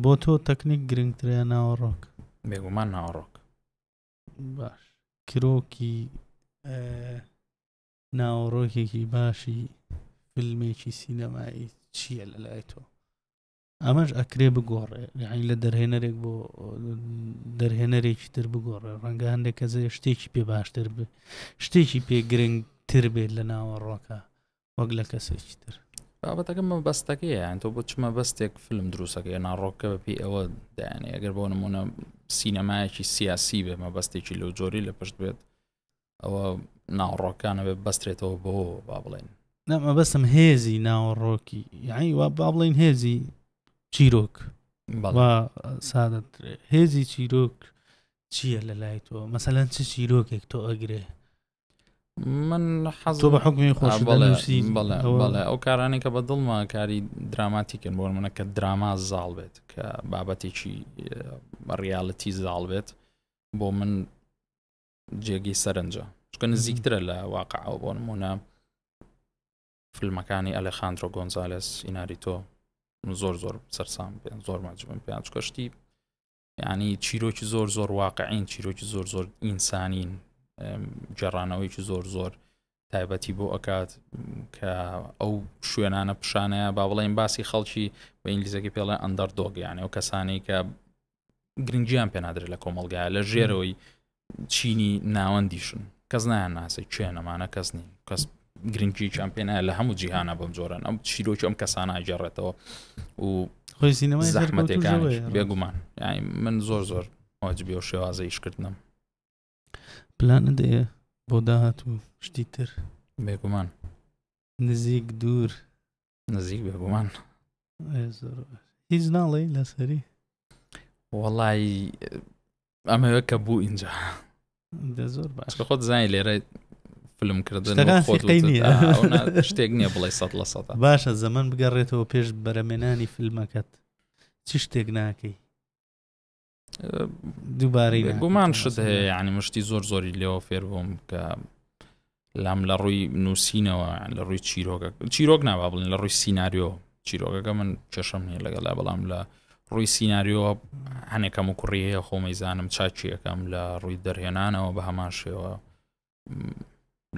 بۆ تۆ تەکنیک گرنگترە ناوەڕۆک بێگومان ناوەڕۆک باش کرۆکی ناوەڕۆکێکی باشی فیلمێکی سینەمایی چییە لە لای تۆ ئەمەش ئەکرێ بگۆڕێ یعنی لە دەرهێنەرێک بۆ دەرهێنەرێکی تر بگۆڕێ ڕەنگە هەندێک کەزێ شتێکی پێ باشتر بێ شتێکی پێ گرنگ تر بێت لە ناوەڕۆکە وەک لە کەسێکی تر بابەتەکە مەبەستەکە یان تۆ بۆ چ مەبەستێک فلم دروستەکە یا ناڕۆکە بە پێی ئەوە دایانێ ئەگەر بۆ نمونە سینەمایەکی سیاسی بێ مەبەستێکی لەو جۆری لە پشت بێت ئەوە ناوڕۆکانە بێ بەسترێتەوە بۆ با بڵێن نەمە بەسم هێزی ناوەڕۆکی یعنی وا با بڵین هێزی چیرۆک سادە هێزی چیرۆک چییە لە لای تۆ مەسەەن چ چیرۆکێک تۆ ئەگرێ من حەز بە حکمی خۆش بەڵێ ئەو کارانێک کە بە دڵما کاری دراماتیکن بۆ منە کە دراما زاڵ بێت کە بابەتێکی ڕیاالەتی زاڵ بێت بۆ من جێگەی سەرنجە چکە نزیکترە لە واقعەوە بۆ نمونە فیلمەکانی ئەلەخاندۆ گۆنزالس ئیناری تۆ زۆر زۆر سەرسام پێ زۆر ماجبم پێیان چکەشتی یعنی چیرۆکی زۆر زۆر واقعین چیرۆکی زۆر زۆر ئینسانین گەڕانەوەیکی زۆر زۆر تایبەتی بۆ ئەکات کە ئەو شوێنانە پیشانەیە با بڵێن باسی خەڵکی بە ئینگلیزەکە پێڵێ ئەندەر دۆگەیانە و کەسانی کە گرنگیان پێنادرێت لە کۆمەلگایە لە ژێرەوەی چینی ناوەندیشن کەس نایان ناسێ کوێن ئەمانە کەس نین کەس گرنگیان پێ نایە لە هەموو جیهانە بەم جۆرەن ئەم چیرۆکی ئەم کەسانە ئەگەڕێتەوە و خۆی سینەمای زەحمەتەکان بێگومان یعنی من زۆر زۆر واجبی و شێوازە ئیشکردنم پلانە دێ بۆ داهات و شتی تر بێگومان نزیک دوور نزیک بێ بۆمان هیچ ناڵێ لەسەری وەڵی ئەمەوە کە بوو اینجا زۆر باش خۆت زای لێرە فلم کردن شتێک نییە بڵێ سە لە سە باشە زەمن بگەڕێتەوە پێش بەرەمێنانی فیلمەکەت چ شتێک ناکەی دووبارەی گومان شت هەیە ینی مشتی زۆر زۆری لێەوە فێر بووم کە لام لە ڕووی نووسینەوە لە ڕووی چیرۆگە چیرۆک ناوا بڵین لە ڕووی سینناریۆ چیرۆگەکە من کێشەم نیە لەگەڵا بەڵام لە ڕووی سینناریۆ هەنێکەم و کوڕی هەیە خۆمەی زانم چاچیەکەم لە ڕووی دەرهێنانەوە بە هەمان شێوە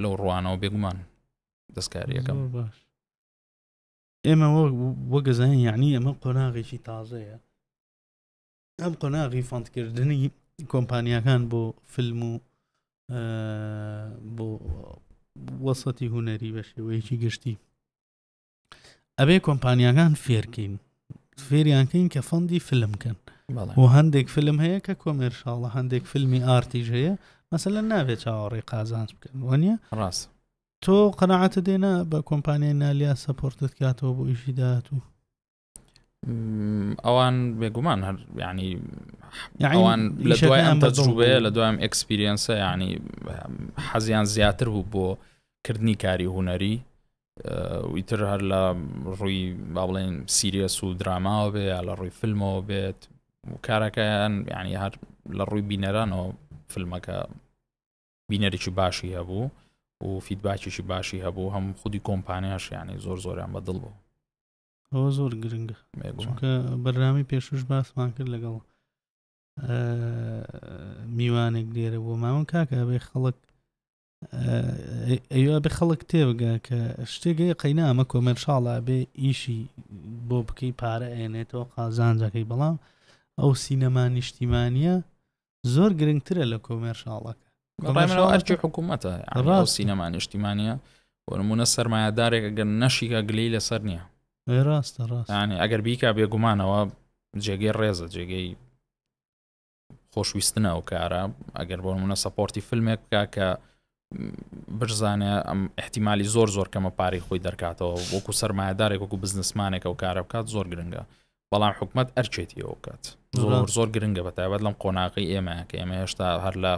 لەو ڕوانەوە بێگومان دەستکاریەکەم باش ئێمە وەگەزانین یعنی ئەمە قۆناغێکی تازەیە ئەم قۆناغی فەندکردنی کۆمپانیاکان بۆ فیلم و بۆ وەسەتی هوەری بە شێوەیەکی گشتی ئەبێ کۆمپانیاکان فێرکەین فێریانکەین کە فەندی فلم کەن و هەندێک فلم هەیە کە کۆمێرشاڵە هەندێک فیلمی ئارتیژ هەیە مەسەلە ناوێت چاوەڕێ قازانج بکەن وەنیە ڕاست تۆ قەنەعاتە دێنا بە کۆمپانیای نالیا سەپۆرتت کاتەوە بۆ ئیشی داات و ئەوان بێگومان هەر ینی ئەوان لە دوای ئەم تەجروبەیە لە دوام ئەکسپیرینسە ینی حەزیان زیاتر بوو بۆ کردنی کاری هوەری ویتر هەر لە ڕووی با بڵێن سیریەس و دراماوە بێ یا لە ڕووی فیلمەوە بێت کارەکەیان ینی هەر لە ڕووی بینەرانەوە فیلمەکە بینەرێکی باشی هەبوو و فیدباکیشی باشی هەبوو هەم خودی کۆمپانیاش ینی زۆر زۆریان بەدڵ بوو ئەوە زۆر گرنگە چونکە بەرنامی پێشوش باسمان کرد لەگەڵ میوانێک لێرە بۆ ماون کاکە ئەبێ خەڵک ئەوە بێ خەڵک تێبگە کە شتێکی قەینا ئەمە کۆمەرشاڵە بێ ئیشی بۆ بکەی پارە ئەێنێتەوە قازانجەکەی بەڵام ئەو سینەما نیشتیمانە زۆر گرنگترە لە کۆمێرشاڵەکە ئەرکی حکوومەتە ڕاو سینەما نیشتیمانە وەرمونە سەرمایهدارێک گەن نەشیکە گلی لەسەر نییە ڕاستە ڕاستانی ئەگەر بیکا بێگومانەوە جێگەی ڕێزە جێگەی خۆشویستنە ئەو کارە ئەگەر بۆ منە سەپۆرتی فیلمێک بکە کە بشزانێ ئەم احتیممالی زۆر زۆر کەمە پارەی خۆی دەرکاتەوە وەکو سرمایهدارێک وەکو بزنسمانێکە و کارە بکات زۆر گرنگە بەڵام حکومت ئەرچێتیەوە بکات زۆر زۆر گرنگە بە تایبەت لەم قۆناغی ئێمە کە ئێمە هێشتا هەر لە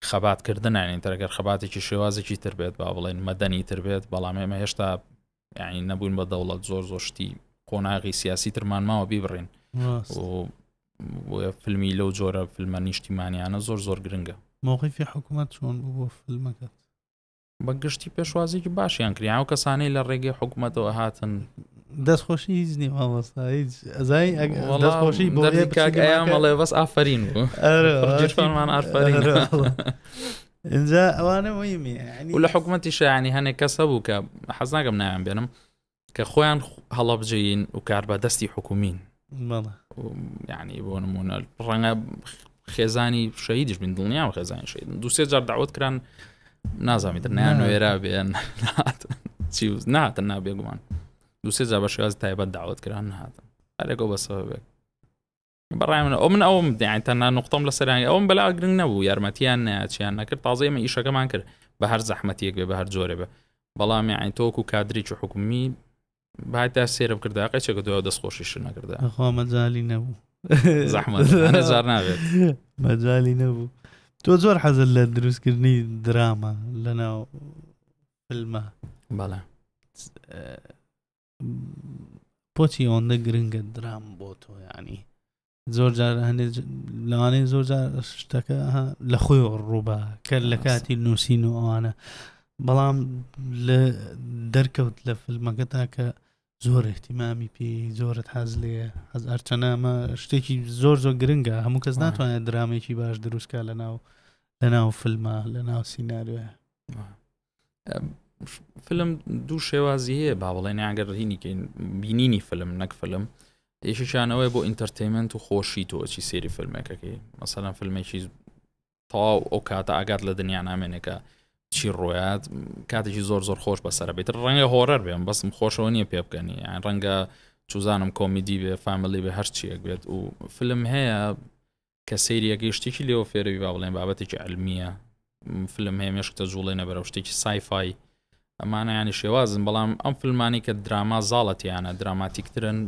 خەباتکردنانین تەرەگەر خەباتێکی شێوازێکی تر بێت با بڵێن مەدەنی تر بێت بەڵام ئێمە هێشتا یعنی نەبووین بە دەوڵەت زۆر زۆر شتی قۆناغی سیاسی ترمان ماوە بیبڕین فیلمی لەو جۆرە فیلمە نیشتیمانیانە زۆر زۆر گرنگە موقیفی حکوومەت چۆن بوو بۆ فیلمەکەت بە گشتی پێشوازیکی باشیان کریا و کەسانەی لە ڕێگەی حکوومەتەوە هاتن دەستخۆشی هیچ نی ئەزایخۆشی بۆڵێ بەس ئافرین بوومان ئافرین ئینجا ئەوانە مهمی و لە حکوومەتی شایانی هەنێک کەس هەبوو کە حەزناگەم ناوێن بێنم کە خۆیان هەڵەبجین و کار بە دەستی حکومین یعنی بۆ نمونە ڕەنگە خێزانی شەیدیش بین دڵنیا و خێزانی شید دوسێ جار داوت کران نازامی دنیان وێرا بێن چی ناتن نابێگومان دوسێ جا بە شێواز تایبەت داوت کران نهاتن هەرێکەوە بەسەوەێک بەڕای من ئەو من ئەوم دیان تەنها نقطم لە سەرانی ئەوم بەلا گرنگ نەبوو یارمەتیان ناچیان نەکرد تازە ئمە ئیشەکەمان کرد بە هەر زەحمەتیەک بێ بە هەر جۆرە بە بەڵام یاعین تۆک و کادریی حکومی باتا سێرم کردا قەچێکە دو دەست خۆشیش نەکردا خۆ مەجای نەبوو زەحمەت زار نابێت مەجای نەبوو تۆ زۆر حەزل لە دروستکردنی دراما لەناو فلمە بەڵێ پۆچی ئەوەندە گرنگە درام بۆ تۆ ینی زۆر جار هەندێک لەوانەیە زۆر جار شتەکە لە خۆی ڕووبە کە لە کاتی نووسین و ئەوانە بەڵام لە دەرکەوت لە فیلمەکەتا کە زۆر احتیمامی پێ زۆرت حەز لێ حەز ئەرچەنامە شتێکی زۆر زۆر گرنگە هەموو کەس ناتوانێت درامێکی باش دروستکە لە ناو لە ناو فیلمە لە ناو سینناروێ فلم دوو شێوازی هەیە با بڵێن یاگەر هینیکەین بینینی فلم نەک فلم یەکیشانەوەی بۆ ئینتەرتەیمنت و خۆشی تۆچی سێری فلمێکەکەی مەسەەن فلمێکی تەواو ئەو کاتە ئاگات لە دنیا نامێنێکە چی ڕۆیات کاتێکی زۆر زۆر خۆش بەسرە بێت ڕەنگە هۆرەر بێن بەسم خۆشەوە نییە پێ بکەنی یان ڕەنگە چوزانم کۆمیدی بێ فامیلی بێ هەرچیەک بێت و فلم هەیە کە سەیری ئەکەی شتێکی لێوە فێرەوی با بڵێن بابەتێکی علمیە فلم هەیە مێشکتە جوڵێنە بەرەو شتێکی سایفای ئەمانە ینی شێوازن بەڵام ئەم فلمانی کە دراما زاڵەتیانە دراماتیکترن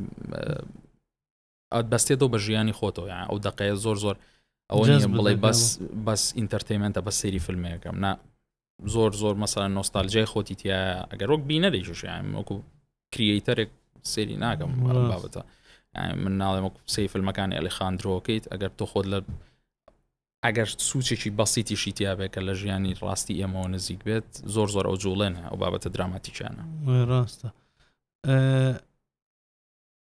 ئەت بەستێتەوە بە ژیانی خۆتەوە یان ئەو دقەیە زۆر زۆر ئەوە بڵێ بەس بەس ئینتەرتەیمنتە بە سەیری فیلمەکەم نا زۆر زۆر مەسەر نۆستالجای خۆتی تایە ئەگەر وەک بینە دەیشش وەکو کریتەرێک سێری ناکەم بابەتە من ناڵێم وەکو سی فیلمەکانی ئەلیخاندرۆکەیت ئەگەر تۆ خۆت لە ئەگەر سوچێکی بەسیتیشی تیاابێ کە لە ژیانی ڕاستی ئێمەوە نزیک بێت زۆر زۆر ئەو جوڵێنە ئەو بابەتە دراماتیکیانە ڕاستە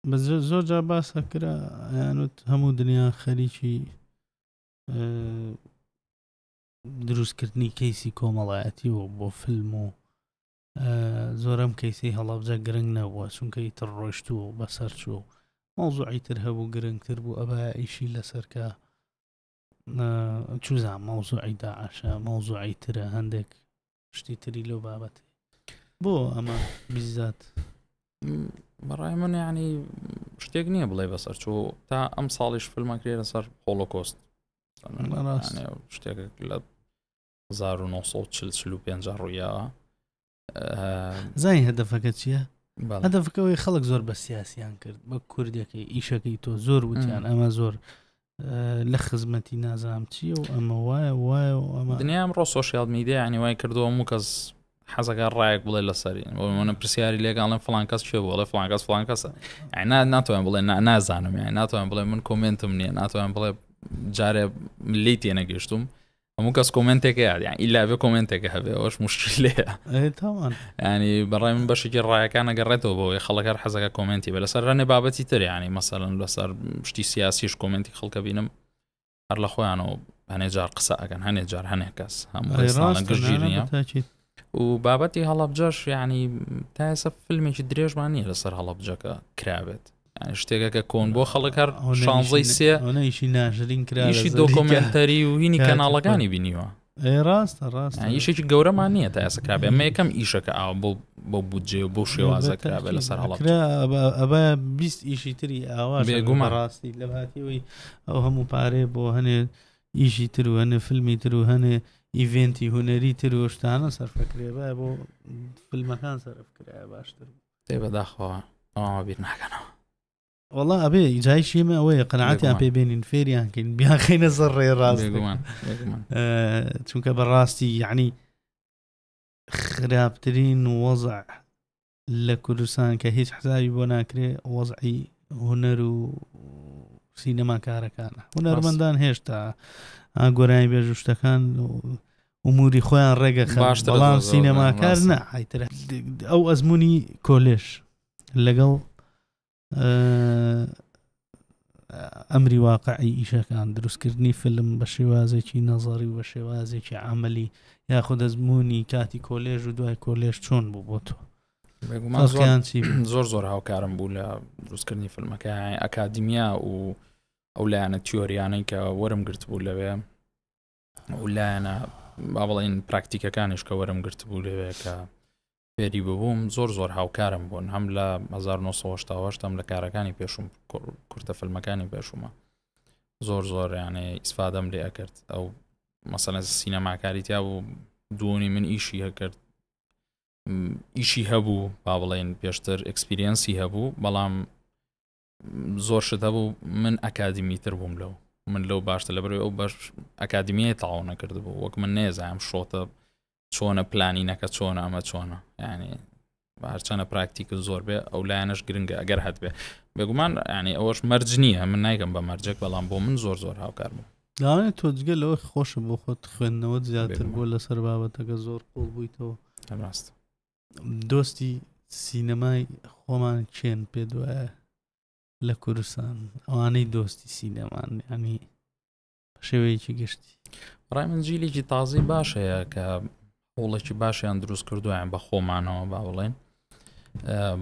بە زۆر جا باسە کرا یانوت هەموو دنیا خەریکی دروستکردنی کەیسی کۆمەڵایەتی و بۆ فیلم و زۆرەم کەیسی هەڵەبجە گرنگ نەبووە چونکە ئیتر ڕۆشتوو و بەسەر چوو مەوزوعی تر هەبوو گرنگتر بوو ئەبا ئیشی لەسەرکە چوزان مەوزوعی داعشە مەوزوعی ترە هەندێک شتی تری لەو بابەتی بۆ ئەمە بیزات بەڕای من ینی شتێک نییە بڵێ بەسەر چۆ تا ئەم ساڵیش فلمان کرێ لەسەر هۆڵۆکۆست شتێک لە 1940 ڕوویاوە زای هەدەفەکە چییە؟ هەدەفەکەەوەی خەڵک زۆر بە سیاسیان کرد بە کوردەکەی ئیشەکەی تۆ زۆر وتیان ئەمە زۆر لە خزمەتی نازام چی و ئەمە وایە وایە و ئەمە دنیام ڕۆ سوۆسیال میدیا ینی وای کردەوە و کەس حەزەکە ڕایەک بڵێ لەسەری منە پرسیاری لێگەڵم فلان کەس چێ بۆڵێ فلان کەس فلان کەسە ئەنا ناتوان بڵێ نازانم یان ناتوان بڵێ من کۆمنتم نییە ناتوان بڵێ جارێ لی تێنەگەشتوم هەموو کەس کۆمنتێکە یاد یان ئیلا بێ کۆمنتێکە هەبێ ئەوش مشکلەیە ینی بەڕای من بەشێکی ڕایەکان نەگەڕێتەوە بۆی خەڵکەر حەزەکە کۆمنتی بە لەسەر ڕەنێ بابەتی تریانی مەسەرن لەسەر شتی سیاسیش کۆمنتی خەڵکە بینم هەر لە خۆیانەوە هەنێ جار قسە ئەگەن هەنێ جار هەنێ کەس هەموو گشتگیری و بابەتی هەڵەبجەش یعنی تا ئێستا فیلمێکی درێژمان نییە لەسەر هەڵەبجەکە کرابێت شتێکەکە کۆن بۆ خەڵک هەر شانزەی سێ ئەوەیشی ناشرین کرایشی دۆکۆمنتەری و هینی کەناڵەکانی بینیوە ڕاستە ڕاست یشێکی گەورەمان نییە تا ئێستا کرابێ ئەمە یەکەم ئیشەکە ئاو بۆ بۆ بودجێ و بۆ شێوازە کرابێ لەسەر هەڵ ئەبە بیست ئیشی تری ئاوا بێگومە ڕاستی لە هاتیەوەی ئەو هەموو پارێ بۆ هەنێ ئیشی تر و هەنێ فلمی تر و هەنێ ئیڤێنتی هونەری تر و شتانە سەرفەکرێبە بۆ فلمەکان سەرفکرایە باشتر تێ بەداخەوە ئەوە بیر ناکەنەوە وڵا ئەبێ جای شێمە ئەوەیە قەنعاتیان پێ بێنین فێریان کەین بیاخینە زەر ڕێ ڕاست چونکە بەڕاستی یعنی خراپترین وەزع لە کوردستان کە هیچ حسابی بۆ ناکرێ وەزعی هونەر و سینەما کارەکانە هونەرمەندان هێشتا ئاگۆرانی بێژ شتەکان ئوموری خۆیان ڕێگە باشتەڵام سینەماکار نەحیتر ئەو ئەزمموی کۆلێش لەگەڵ ئەمری واقعی ئیشەکان دروستکردنی فلم بە شێوازێکی نەزاری و بە شێوازێکی عملی یاخود دەزمموی کاتی کۆلێژ و دوای کۆلێژ چۆن بوو بۆ تۆ زۆر زۆر هاوکارم بوو لە دروستکردنی فیلمەکە ئەکادیمیا و ئەو لایەنە تیۆریانەی کە وەرم گرت بوو لەوێ ئەو لایەنە با بڵین پراکتیکەکانش کە وەرم گرت بوو لەوێ کە فێری ببووم زۆر زۆر هاوکارم بوون هەم لە 1970 هەم لە کارەکانی پێشوم کورتە فلمەکانی پێشومە زۆر زۆر یانێ ئیسفادەم لێ ئەکرد ئەو مەسەنە سینەماکاری تیا بوو دوونی من ئیشی هەکرد ئیشی هەبوو با بڵێن پێشتر ئەکسپریەنسی هەبوو بەڵام زۆر شت هەبوو من ئەکادیمی تر بووم لەو من لەو باشتە لە بەرەوەی ئەو بەش ئەکادمیە تاو نەکردبوو وەک من نێزانم شۆتە چۆنە پلانی نەکە چۆنە ئەمە چۆنە ینی هەرچەنە پراکتیکە زۆر بێ ئەو لایەنش گرنگە ئەگەر هەت بێ بێگومان ینی ئەوەش مەرج نییە من نایگەم بە مەرجێک بەڵام بۆ من زۆر زۆر هاوکار بوو داوانێت تۆ جگە لەوە خۆشە بۆ خۆت خوێندنەوە زیاتر بۆ لەسەر بابەتەکە زۆر قوڵ بوویتەوە ڕاست دۆستی سینەمای خۆمان چێن پێ دوایە لە کوردستان ئەوانەی دۆستی سینەمان ینی شێوەیەکی گشتی ڕای من جیلێکی تازی باش هەیە کە هەوڵێکی باشیان دروست کردویان بە خۆمانەوە با بڵێن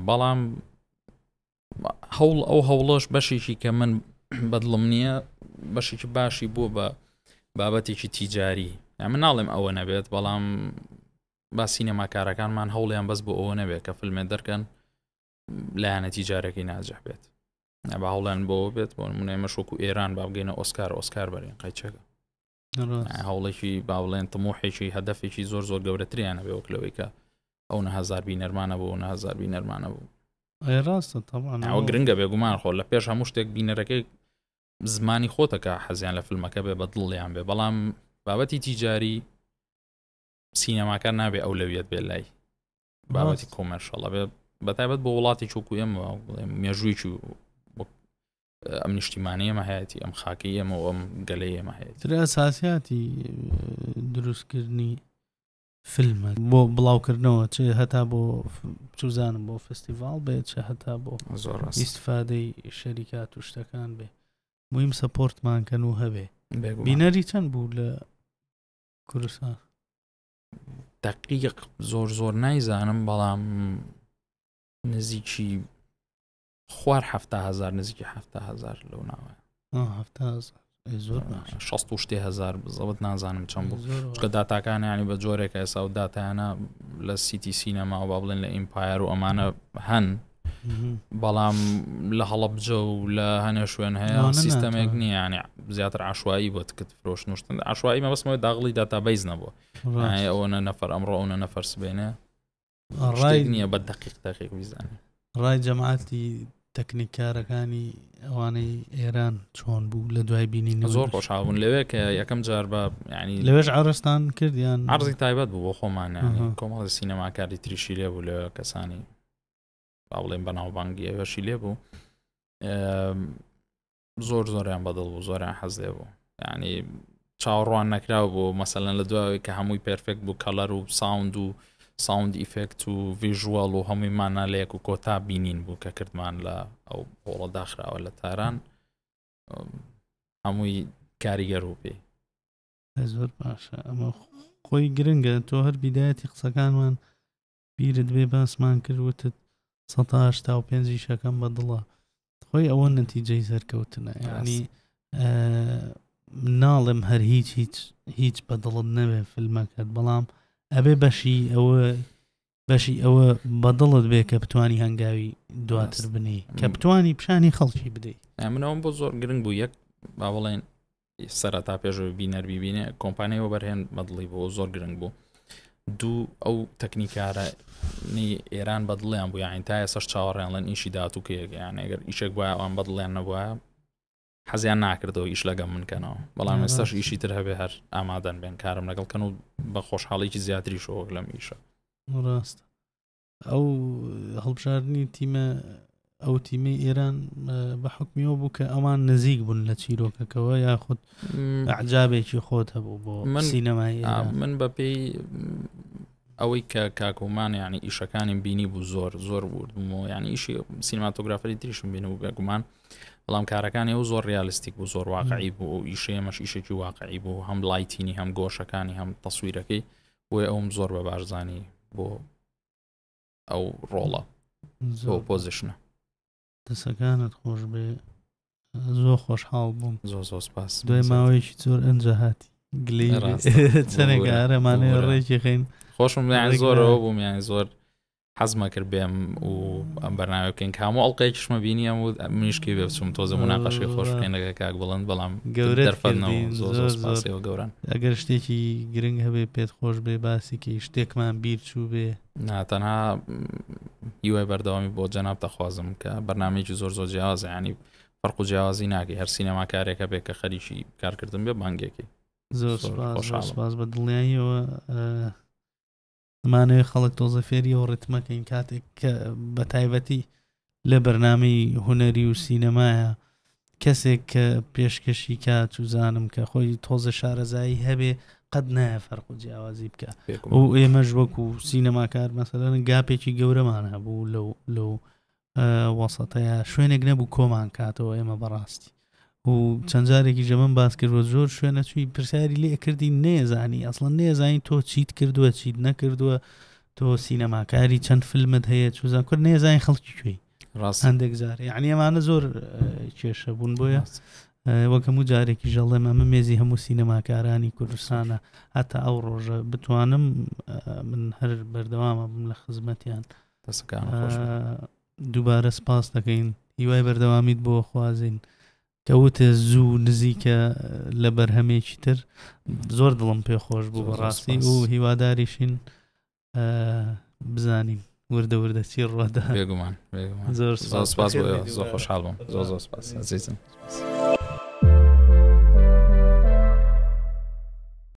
بەڵام هەوڵ ئەو هەوڵۆش بەشێکی کە من بەدڵم نییە بەشێکی باشی بوو بە بابەتێکی تیجاری من ناڵێم ئەوە نەبێت بەڵام با سینەماکارەکانمان هەوڵیان بەس بۆ ئەوە نەبێت کە فلمێ دەرکەن لایەنەتی جارەکەی ناجح بێت با هەوڵیان بۆ بێت بۆ منێ مەشوەکو ئێران با بگەینە ئۆسکار ئۆسکار بەرین قەیچەکە هەوڵێکی باڵێن تمۆحێکی هەدەفێکی زۆر زۆر گەورەتریانە بێ وەک لەوەیکە ئەو نەهزار بینەرمانە بوو نەهزار بینەرمانە بوو ڕاستە تاوە گرنگە بێگومان خۆ لە پێش هەموو شتێک بینەرەکەی زمانی خۆتەکە حەزیان لە فیلمەکە بێ بە دڵیان بێ بەڵام بابەتی تیجاری سینەماکار نابێ ئەولەویەت بێ لای بابەتی کۆمەرشەڵە بێ بەتایبەت بۆ وڵاتی چووکو ئێمە مێژوویی ئەم نیشتیمانی ئەمە هەیەی ئەم خاکی ئەمە ئەم گەلەی ئەمە هەیە تر ئەساسیاتی دروستکردنی فیلمە بۆ بڵاوکردنەوە چ هەتا بۆ چوزانم بۆ فستیڤال بێت چ هەتا بۆ زۆر ئیسفادەی شەریکات و شتەکان بێ میم سەپۆرتمانکەن و هەبێ بینەری چەند بوو لە کوردستان دقیق زۆر زۆر نایزانم بەڵام نزیکی خوار هزار نزیکی هزار لەو ناوە زۆر شتێ هزار بزەوت نازانم چەند بوو چکە داتاکانیانی بە جۆرێکە ئێسا و داتیانە لە سیتی سینەما و با بڵێن لە ئیمپایەر و ئەمانە هەن بەڵام لە هەڵبجە و لە هەنێ شوێن هەیە سیستەمێک نییانە زیاتر عشوایی بۆ تکت فرۆشت نوشتن عشوایی مە بەسمەوەی داغڵی داتا بیس نەبوو ئەوەنە نەفەر ئەمڕۆ ئەوە نەفەر سبێنێ ڕای نییە بە دقیق دقیق ویزانانی ڕای جەماعاتی تەکنیکارەکانی ئەوانەی ئێران چۆن بوو لە دوای بینین زۆر خۆشحاون لەوێ کە یەکەم جار بە ینی لەوێش ئارستان کردیان ئارزی تایبەت بوو بۆ خۆمانە کۆمەڵی سینەماکاری تریشی لێ بوو لە کەسانی با بڵێن بەناوبانگی ئەوەشی لێ بوو زۆر زۆریان بەدڵ بوو زۆریان حەز لێ بوو ینی چاوەڕوان نەکراو بۆ مەسەلەن لە دوای کە هەمووی پرفێکت بوو کەلەر و ساوند و ساوند ئیفێکت و ڤژوەڵ و هەمووی مانالەیەک و کۆتا بینین بوو کە کردمان لە ئەو هۆڵە داخراوە لە تاران هەمووی کاریگەر و پێی زۆر باشە ئەمە خۆی گرنگە تۆ هەر بیدایەتی قسەکانمان بیرت بێ باسمان کرد وتت سەتا هەشتا و پێنج ئیشەکەم بە دڵە خۆی ئەوە نەتیجەی سەرکەوتنە ینی ناڵم هەر هیچ هیچ هیچ بە دڵت نەوێ فیلمەکەت بەڵام ئەبێ بەشی ئەوە بەشی ئەوە بەدڵت بێ کە بتانی هەنگاوی دواتر بنی کە بتانی پیشانی خەڵکی بدەیت منەوەم بۆ زۆر گرنگ بوو یەک با بڵێن سەرەتا پێشەوە بینەر بیبینێ کۆمپانیای وەبەرهێن بەدڵی بۆ زۆر گرنگ بوو دوو ئەو تەکنیکارە ئێران بەدڵیان بوو یاین تا ئێسش چاوەڕێنڵێن ئیشی دااتو کێگەیان ئەگەر ئیشێک بە ئەوان بەدڵیان نەبووە حەزیان ناکردەوە ئیش لەگەم منکەنەوە بەڵام ئێستاش ئیشی تر هەبێ هەر ئامادەن بێن کارم لەگەڵ کەن و بە خۆشحاڵێکی زیاتری شۆک لەم ئیشە ڕاست ئەو هەڵبژاردنی تیمە ئەو تیمی ئێران بە حکمیەوە بوو کە ئەوان نزیک بوون لە چیرۆکەکەەوە یاخود عجابێکی خۆت هەبوو بۆ من سینەمای من بە پێی ئەوەی کە کاکۆمان ینی ئیشەکانی بینی بوو زۆر زۆر بردمەوە ینی ئیشی سینماتۆگرافری تریشم بینە و بێگومان بەڵام کارەکانی ئەو زۆر ریالیستیک بوو زۆر واقعی بوو ئیشەیەمەش ئیشێکی واقعی بوو هەم لایتینی هەم گۆشەکانی هەم تەسویرەکەی بۆیە ئەوم زۆر بە بارزانانی بۆ ئەو ڕۆڵە زۆر پۆزیشنە دەسەکانت خۆش بێ زۆر خۆشحاڵ بووم زۆر زۆر سپاس دوای ماوەیەکی زۆر ئەنجە هاتی گلی چەنێکارەمانێ ڕێکی خین خۆشم زۆرەوە بووم یان زۆر حەزم ئەکرد بێم و ئەم بەرنامە بکەین کە هەموو ئەڵلقەیەکیشمە بینیەم و منیش پێی بێ بچووم تۆزە مناقەشەی خۆش بکەین لەگە کاک بڵند بەڵام گەورە دەرفەتنەوە زۆر زۆر سپاسیەوە گەوران ئەگەر شتێکی گرنگ هەبێ پێت خۆش بێ باسیکە شتێکمان بیر چوو بێ نا تەنها هیوای بەردەوامی بۆ جەناب دەخوازم کە بەرنمەیەکی زۆر زۆر جیازە ینی فەرق و جیازی ناکەی هەر سینەماکارێکە بێ کە خەریکی کارکردن بێ بانگێکی زۆر سپاس بە دڵنیاییەوە ئەمانەوێ خەڵک تۆزە فێری و ڕتمەکەین کاتێک کە بە تایبەتی لە بەرنمەی هوەری و سینەمایە کەسێک کە پێشکەشی کا چزانم کە خۆی تۆزە شارەزایی هەبێ قەت نایە فەرق و جیاوازی بکە و ئێمەش وەکو سینەماکار مەسەرەن گاپێکی گەورەمان هەبوو لەو لەو وەسەتەیە شوێنێک نەبوو کۆمان کاتەوە ئێمە بەڕاستی و چەند جارێکی ژەمن باس کردوە زۆر شوێنە چوی پرسیاری لێ کردی نێزانی ئەسڵەن نێزانین تۆ چیت کردووە چیت نەکردووە تۆ سینەماکاری چەند فیلمت هەیە چوزان کرد نێزانین خەڵکی کوێی هەندێک جار یعنی ئەمانە زۆر کێشە بوون بۆیە وەکەم و جارێکی ژەڵێ ئەمە مێزی هەموو سینەماکارانی کوردستانە هەتا ئەو ڕۆژە بتوانم من هەر بەردەوامە بم لە خزمەتیان. دووبارە سپاس دەکەین هیوای بەردەوامیت بۆ خوازین کە وتە زوو نزیکە لە بەرهەمێکی تر زۆر دڵم پێ خۆش بوو بەڕاستی و هیواداریشین بزانین وردە وردە چی ڕۆدا بێگومان زۆر سپاس زۆر خۆشحاڵ بووم زۆر زۆر سپاس ئەزیزم.